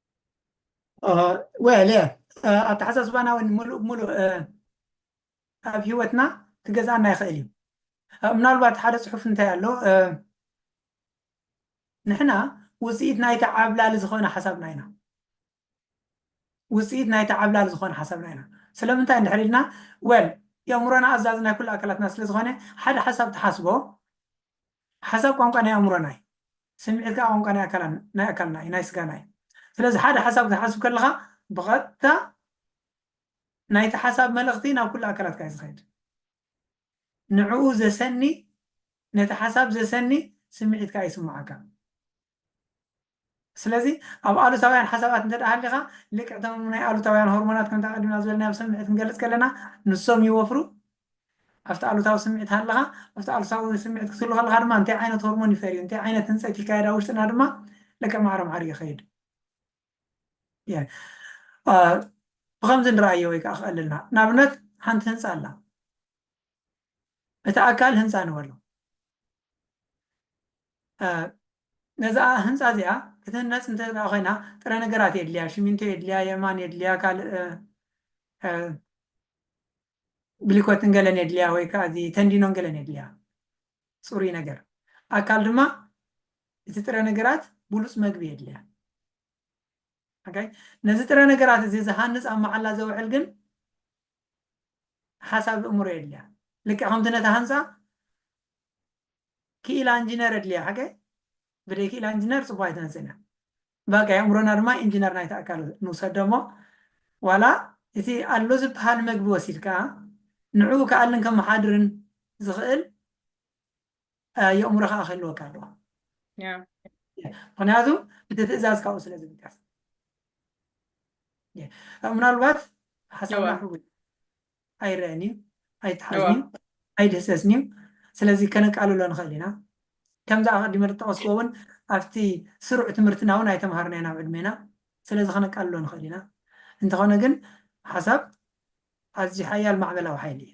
ዌል እየ ኣተሓሳስባና እውን ሙሉእ ብሙሉእ ኣብ ሂወትና ክገዝኣና ይኽእል እዩ ምናልባት ሓደ ፅሑፍ እንታይ ኣሎ ንሕና ውፅኢት ናይቲ ዓብላሊ ዝኾነ ሓሳብና ኢና ውፅኢት ናይቲ ዓብላሊ ዝኾነ ሓሳብና ኢና ስለምንታይ እንድሕር ኢልና ወል የእምሮና ኣዛዝ ናይ ኩሉ ኣካላትና ስለዝኾነ ሓደ ሓሳብ ተሓስቦ ሓሳብ ቋንቋ ናይ ኣእምሮና እዩ። ስምዒት ከኣ ቋንቋ ናይ ኣካላን ናይ ኣካልና እዩ ናይ ስጋና እዩ። ስለዚ ሓደ ሓሳብ ክትሓስብ ከለኻ ብቐጥታ ናይቲ ሓሳብ መልእኽቲ ናብ ኩሉ ኣካላትካ እዩ ዝኸይድ። ንዕኡ ዘሰኒ ነቲ ሓሳብ ዘሰኒ ስምዒት ከኣ ይስምዓካ። ስለዚ ኣብ ኣሉታውያን ሓሳባት እንተ ሃሊኻ ልክዕ እቶም ናይ ኣሉታውያን ሆርሞናት ከምቲ ኣቐዲምና ዝበልናዮ ኣብ ስምዒት ክንገልጽ ከለና ንሶም ይወፍሩ ኣብቲ ኣሉታዊ ስምዒት ሃለኻ ኣብቲ ኣሉታዊ ስምዒት ክትህሉ ከለኻ ድማ እንታይ ዓይነት ሆርሞን ይፈርዩ እንታይ ዓይነት ህንፀት ይካየድ ኣብ ውሽጥና ድማ ልክዕ ማዕረ ማዕሪ ይኸይድ ብከምዚ ንረኣዮ ወይ ከዓ ክቐልልና ንኣብነት ሓንቲ ህንፃ ኣላ እቲ ኣካል ህንጻ ንበሎ። ነዛ ህንጻ እዚኣ ክትህነጽ እንተ ኮይና ጥረ ነገራት የድልያ፣ ሽሚንቶ የድልያ፣ የማን የድልያ፣ ካልእ ብሊኮትን ገለን የድልያ ወይ ከዓ እዚ ተንዲኖን ገለን የድልያ ፅሩይ ነገር ኣካል ድማ እቲ ጥረ ነገራት ብሉፅ መግቢ የድልያ ነዚ ጥረ ነገራት እዚ ዝሃንፅ ኣብ መዓላ ዘውዕል ግን ሓሳብ እእምሮ የድልያ ልክዕ ከምቲ ነታ ህንጻ ክኢላ እንጂነር የድልያ ሓቀ ብደይ ክኢላ እንጂነር ጽቡቅ ኣይትነጽን እያ በቃ የእምሮና ድማ ኢንጂነር ናይቲ ኣካል ንውሰዶ እሞ ዋላ እቲ ኣሎ ዝበሃል መግቢ ወሲድካ ንዕኡ ክኣልን ከመሓድርን ዝኽእል የእምሮ ከዓ ክህልወካ ኣለዎ ምክንያቱ እቲ ትእዛዝ ካብኡ ስለ ዝምቀስ ምናልባት ሓሳብና ሕጉ ኣይረአን እዩ ኣይተሓዝን እዩ ኣይድህሰስን እዩ ስለዚ ከነቃልሎ ንኽእል ኢና ከምዚ ኣቀዲመ ዝጠቀስክዎ እውን ኣብቲ ስሩዕ ትምህርትና እውን ኣይተምሃርና ኢና ኣብ ዕድሜና ስለዚ ከነቃልሎ ንኽእል ኢና እንተኾነ ግን ሓሳብ ኣዝዩ ሓያል ማዕበላዊ ሓይሊ እዩ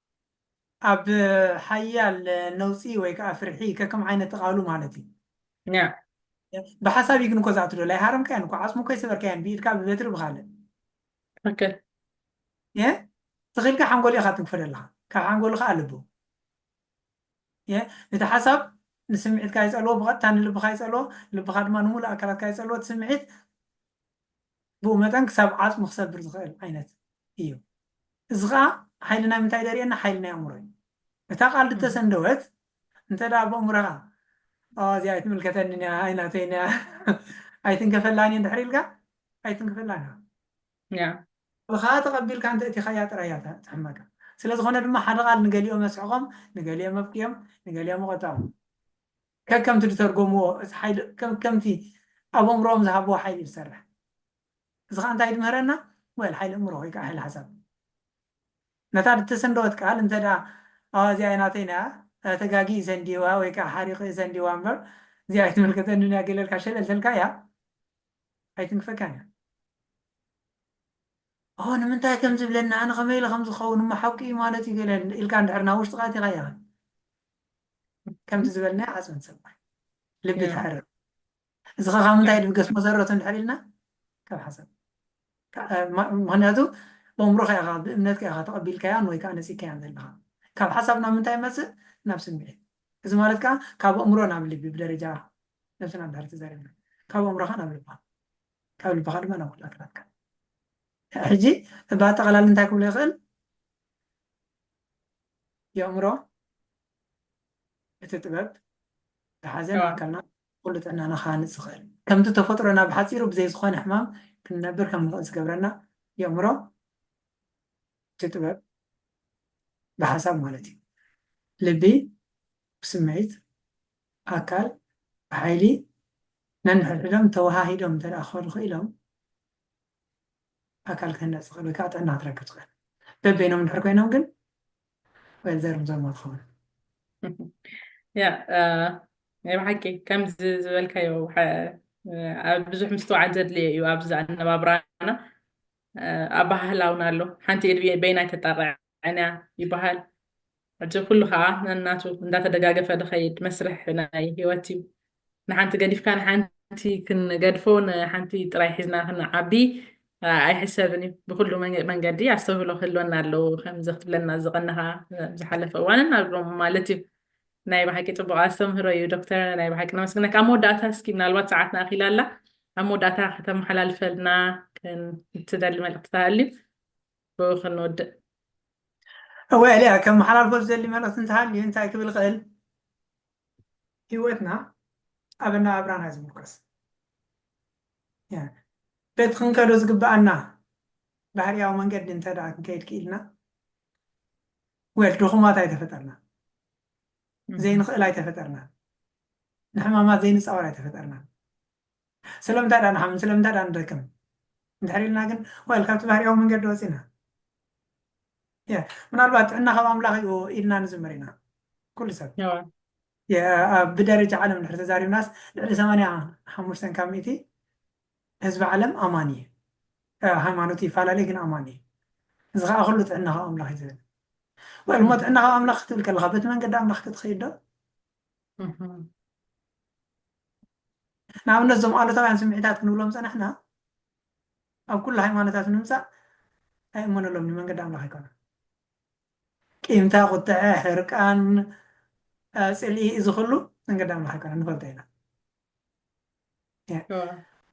ኣብ ሓያል ነውጺ ወይ ከኣ ፍርሒ ከከም ዓይነት እቓሉ ማለት እዩ። ን። ብሓሳብ እዩ ግን እኮ ዝኣቱ ዶል ኣይሃረምካያን እኮ ዓጽሙ እኮ ኣይሰበርካያን ብኢድካ ብበትሪ ብካልእ ትክክል የ ተኺልካ ሓንጎል ኢኻ ትንክፎ ዘለኻ ካብ ሓንጎል ከዓ ልቡ የ እቲ ሓሳብ ንስምዒትካ ይጸልዎ ብቐጥታ ንልብኻ ይጸልዎ ልብኻ ድማ ንሙሉእ ኣካላትካ ይጸልዎ እቲ ስምዒት ብኡ መጠን ክሳብ ዓጽሙ ክሰብር ዝኽእል ዓይነት እዩ። እዚ ከኣ ሓይሊ ናይ ምንታይ ደርእየና ሓይሊ ናይ ኣእምሮ እዩ። እታ ቃል ድተሰንደወት እንተ ደኣ በእምሮኻ ኣዋ እዚኣ ኣይትምልከተንን እያ ኣይ ናተይን እያ ኣይትንከፈላን እየ እንድሕር ኢልካ ኣይትንክፈላን እያ። Yeah። ብኸኣ ተቐቢልካ እንተ እቲኻያ ጥራይ እያ ትሕመካ። ስለ ዝኾነ ድማ ሓደ ቃል ንገሊኦም ኣስሕቖም ንገሊኦም ኣብክዮም ንገሊኦም ኣቖጠዖም። ከከምቲ ድተርጎምዎ እቲ ሓይሊ ከከምቲ ኣብ ኣእምሮኦም ዝሃብዎ ሓይሊ እዩ ዝሰርሕ። እዚ ከኣ እንታይ ድምህረና well ሓይሊ ኣእምሮ ወይ ከኣ ሓይሊ ሓሳብ ነታ ድተሰንደወት ቃል እንተ ደኣ ኣዋ እዚኣ እያ ናተይ ናይ እያ ተጋጊ እዩ ሰንዲዋ ወይ ከኣ ሓሪቑ እዩ ሰንዲዋ እምበር እዚኣ ኣይትምልከተንን እያ ገለ ኢልካ ሸለል ተልካያ ኣይትንክፈካን እያ። ኦ ንምንታይ ከም ዝብለኒ ኣነ ከመይ ኢለ ከም ዝኸውን እሞ ሓቁ እዩ ማለት እዩ ገለ ኢልካ እንድሕር ናብ ውሽጥኻ ኣእቲኻያ ከምዚ ዝበልናዮ ዓጽሚ ትሰብር ልቢ ትሕርር እዚ ከ ካብ ምንታይ ድብገስ መሰረቱ እንድሕር ኢልና ካብ ሓሳብ ምክንያቱ በእምሮካ ኢኻ ብእምነትካ ኢኻ ተቐቢልካያን ወይ ከዓ ነፂግካያን ዘለኻ ካብ ሓሳብ ናብ ምንታይ ይመፅእ ናብ ስምዒት እዚ ማለት ከዓ ካብ ኣእምሮ ናብ ልቢ ብደረጃ ነብስና እንድሕር ተዛሪብና ካብ ኣእምሮካ ናብ ልብካ ካብ ልብካ ድማ ናብ ኩላ ኣካላትካ ሕጂ ብኣጠቃላሊ እንታይ ክብሎ ይኽእል የእምሮ እቲ ጥበብ ዝሓዘ ንኣካልና ኩሉ ጥዕናና ክሃንፅ ዝኽእል ከምቲ ተፈጥሮና ብሓፂሩ ብዘይ ዝኾነ ሕማም ክንነብር ከም ንኽእል ዝገብረና የእምሮ እቲ ጥበብ ብሓሳብ ማለት እዩ ልቢ ብስምዒት ኣካል ብሓይሊ ነንሕድሕዶም ተወሃሂዶም እንተ ክኸዱ ክኢሎም ኣካል ክህነፅ ዝኽእል ወይ ከዓ ጥዕና ክትረክብ ትኽእል በበይኖም እንድሕር ኮይኖም ግን ወይ ዘርም ዘርሞ ትኸውን ያ ናይ ብሓቂ ከምዚ ዝበልካዮ ብዙሕ ምስትውዓል ዘድልየ እዩ ኣብዚ ኣነባብራና ኣባህላውና ኣሎ ሓንቲ እድብየ በይና ተጣቕዕ ኣንያ ይበሃል። ሕጂ ኩሉ ከኣ ነናቱ እንዳተደጋገፈ ድኸይድ መስርሕ ናይ ህይወት እዩ። ንሓንቲ ገዲፍካ ንሓንቲ ክንገድፎ ንሓንቲ ጥራይ ሒዝና ክንዓቢ ኣይሕሰብን እዩ። ብኹሉ መንገዲ ኣስተውህሎ ክህልወና ኣለዎ ከምዚ ክትብለና ዝቐነኻ ዝሓለፈ እዋንን ኣብ ሎም ማለት እዩ። ናይ ብሓቂ ጽቡቕ ኣስተምህሮ እዩ ዶክተር ናይ ብሓቂ ነመስግነካ። ኣብ መወዳእታ እስኪ ምናልባት ሰዓትና ኣኺላ ኣላ ኣብ መወዳእታ ከተመሓላልፈልና ክትደሊ መልእኽቲ ተሃልዩ ብኡ ክንወድእ። እወ ኤልያ፣ ከመሓላልፎ ዝደሊ መልእኽቲ እንተሃልዩ እንታይ ክብል ይኽእል? ህይወትና ኣብ ኣነባብራና እዩ ዝምርኮስ። በቲ ክንከዶ ዝግበኣና ባህርያዊ መንገዲ እንተድኣ ክንከይድ ክኢልና፣ ወል ድኹማት ኣይተፈጠርናን፣ ዘይንኽእል ኣይተፈጠርናን፣ ንሕማማት ዘይንጻወር ኣይተፈጠርናን። ስለምንታይ ድኣ ንሓምን ስለምንታይ ድኣ ንደክም እንድሕር ኢልና ግን ወል ካብቲ ባህርያዊ መንገዲ ወፂና ያ ምናልባት ጥዕና ካብ ኣምላኽ እዩ ኢልና ንዝምር ኢና ኩሉ ሰብ ነዋ ያ- ብደረጃ ዓለም እንድሕር ተዛሪብናስ ልዕሊ 85 ካብ ሚእቲ ህዝቢ ዓለም ኣማኒ እዩ ያ፣ ሃይማኖቱ ይፈላለይ ግን ኣማኒ እዩ እዚ ከዓ ኩሉ ጥዕና ካብ ኣምላኽ እዩ ዝብል ወል እሞ ጥዕና ካብ ኣምላኽ ክትብል ከለካ በቲ መንገዲ ኣምላኽ ክትኸይድ ዶ እህ። ንኣብነት እዞም ኣሉታውያን ስምዒታት ክንብሎም ዝጸናሕና ኣብ ኩሉ ሃይማኖታት ንምምጻእ ኣይእመነሎምን እዩ፣ መንገዲ ኣምላኽ ኣይኮነን። ቂምታ፣ ቁጥዐ፣ ሕርቃን፣ ጽልኢ እዚ ኩሉ መንገዲ ኣምላኽ ኣይኮነን ንፈልጦ ኢና።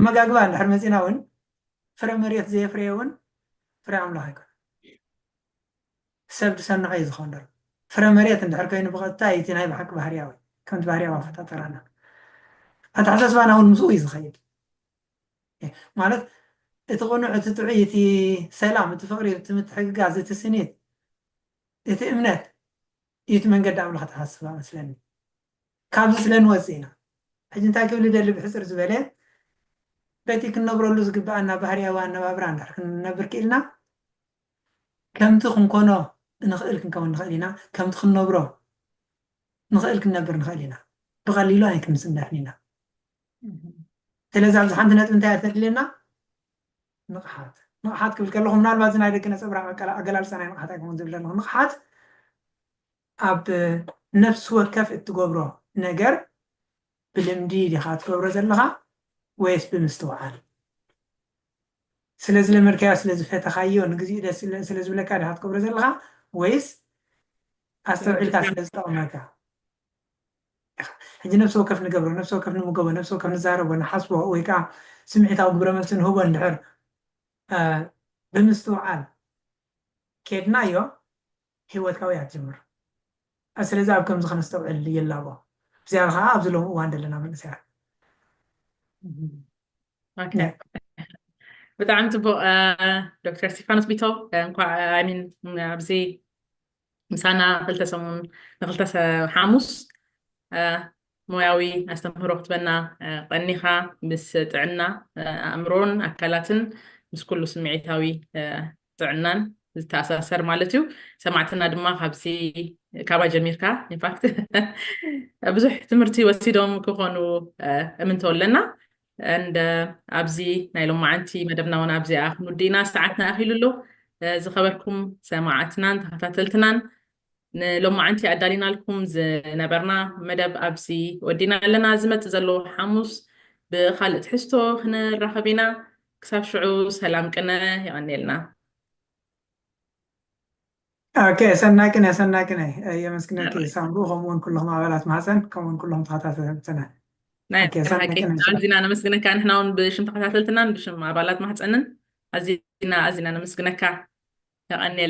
ኣመጋግባ እንድሕር መጺና እውን ፍረ መሬት ዘየፍረየ እውን ፍረ ኣምላኽ ኣይኮነን። ሰብ ብሰናዩ ዝኸንደሮ ፍረ መሬት እንድሕር ከይኑ ብቐጥታ እዩ እቲ ናይ ብሓቂ ባህርያዊ፣ ከምቲ ባህርያዊ ኣፈጣጠራና። ኣተሓሳስባና እውን ምስኡ እዩ ዝኸይድ። ማለት እቲ ቅኑዕ፣ እቲ ጥዑይ፣ እቲ ሰላም፣ እቲ ፍቕሪ፣ እቲ ምትሕግጋዝ፣ እቲ ስኒት፣ እቲ እምነት እዩ እቲ መንገዲ ኣምላኽ ኣተሓሳስባ መስለኒ። ካብዚ ስለ ንወጽእ ኢና ሕጂ እንታይ ክብል እደሊ ብሕጽር ዝበለ በቲ ክንነብረሉ ዝግብኣና ባህርያዊ ኣነባብራ እንድሕር ክንነብር ክኢልና፣ ከምቲ ክንኮኖ እንኽእል ክንከውን ንኽእል ኢና፣ ከምቲ ክንነብሮ ንኽእል ክንነብር ንኽእል ኢና፣ ብቐሊሉ ኣይክንስንፍን ኢና። ስለዚ ኣብዚ ሓንቲ ነጥቢ እንታይ እያ ተድልየና? ንቕሓት። ንቕሓት ክብል ከለኹ ምናልባት እዚ ናይ ደቂ ነፀብራቕ ኣገላልፃ ናይ ንቕሓት ኣይኮን ዝብል ዘለኹ ንቕሓት ኣብ ነፍሲ ወከፍ እትገብሮ ነገር ብልምዲ ዲኻ ትገብሮ ዘለኻ ወይስ ብምስትውዓል ስለ ዝለመድካዮ ስለ ዝፈተኻዮ ንግዚኡ ደስ ስለ ዝብለካ ዲኻ ትገብሮ ዘለኻ ወይስ ኣስተውዒልካ ስለ ዝጠቕመካ ኢኻ ሕጂ ነብሲ ወከፍ ንገብሮ ነብሲ ወከፍ ንምገቦ ነብሲ ወከፍ ንዛረቦ ንሓስቦ ወይ ከዓ ስምዒታዊ ግብረ መልሲ ንህቦ እንድሕር ብምስትውዓል ኬድናዮ ህይወትካ ወይ ኣትጀምር። ስለዚ ኣብ ከምዚ ከነስተውዕል ይላቦ። ብዝያዳ ከኣ ኣብዚ ሎሚ እዋን ደለና መንእሰያት። ብጣዕሚ ጽቡቕ ዶክተር እስቲፋኖስ ቢቶ እንኳዕ ኣይ ሚን ኣብዚ ምሳና ክልተ ሰሙን ንክልተ ሓሙስ ሞያዊ ኣስተምህሮ ክትበና ቐኒኻ ምስ ጥዕና ኣእምሮን ኣካላትን ምስ ኩሉ ስምዒታዊ ጥዕናን ዝተኣሳሰር ማለት እዩ ሰማዕትና ድማ ካብዚ ካባይ ጀሚርካ ኢንፋክት ብዙሕ ትምህርቲ ወሲዶም ክኾኑ እምንቶ ኣለና እንደ ኣብዚ ናይ ሎማዓንቲ መደብና እውን ኣብዚኣ ክንውድእና ሰዓትና ኣኺሉ ኣሎ ዝኸበርኩም ሰማዕትናን ተኸታተልትናን ንሎማዓንቲ ኣዳሊናልኩም ዝነበርና መደብ ኣብዚ ወዲና ኣለና ዝመጽእ ዘሎ ሓሙስ ብኻልእ ትሕዝቶ ክንራኸብ ኢና ክሳብ ሽዑ ሰላም ቅነ የቐንየልና ኦኬ ሰናይ ቅነ ሰናይ ቅነ የመስግነኪ ሳምሩ ከምኡውን ኩሎም ኣባላት ማህፀን ከምኡውን ኩሎም ተኸታተልትና ናይ ኦኬ፣ ሰናይ ሓቂ ቅነ ሰናይ። ኣዚና ነመስግነካ ንሕና እውን ብሽም ተኸታተልትናን ብሽም ኣባላት ማህፀንን ኣዚና ኣዚና ነመስግነካ የቐንየልና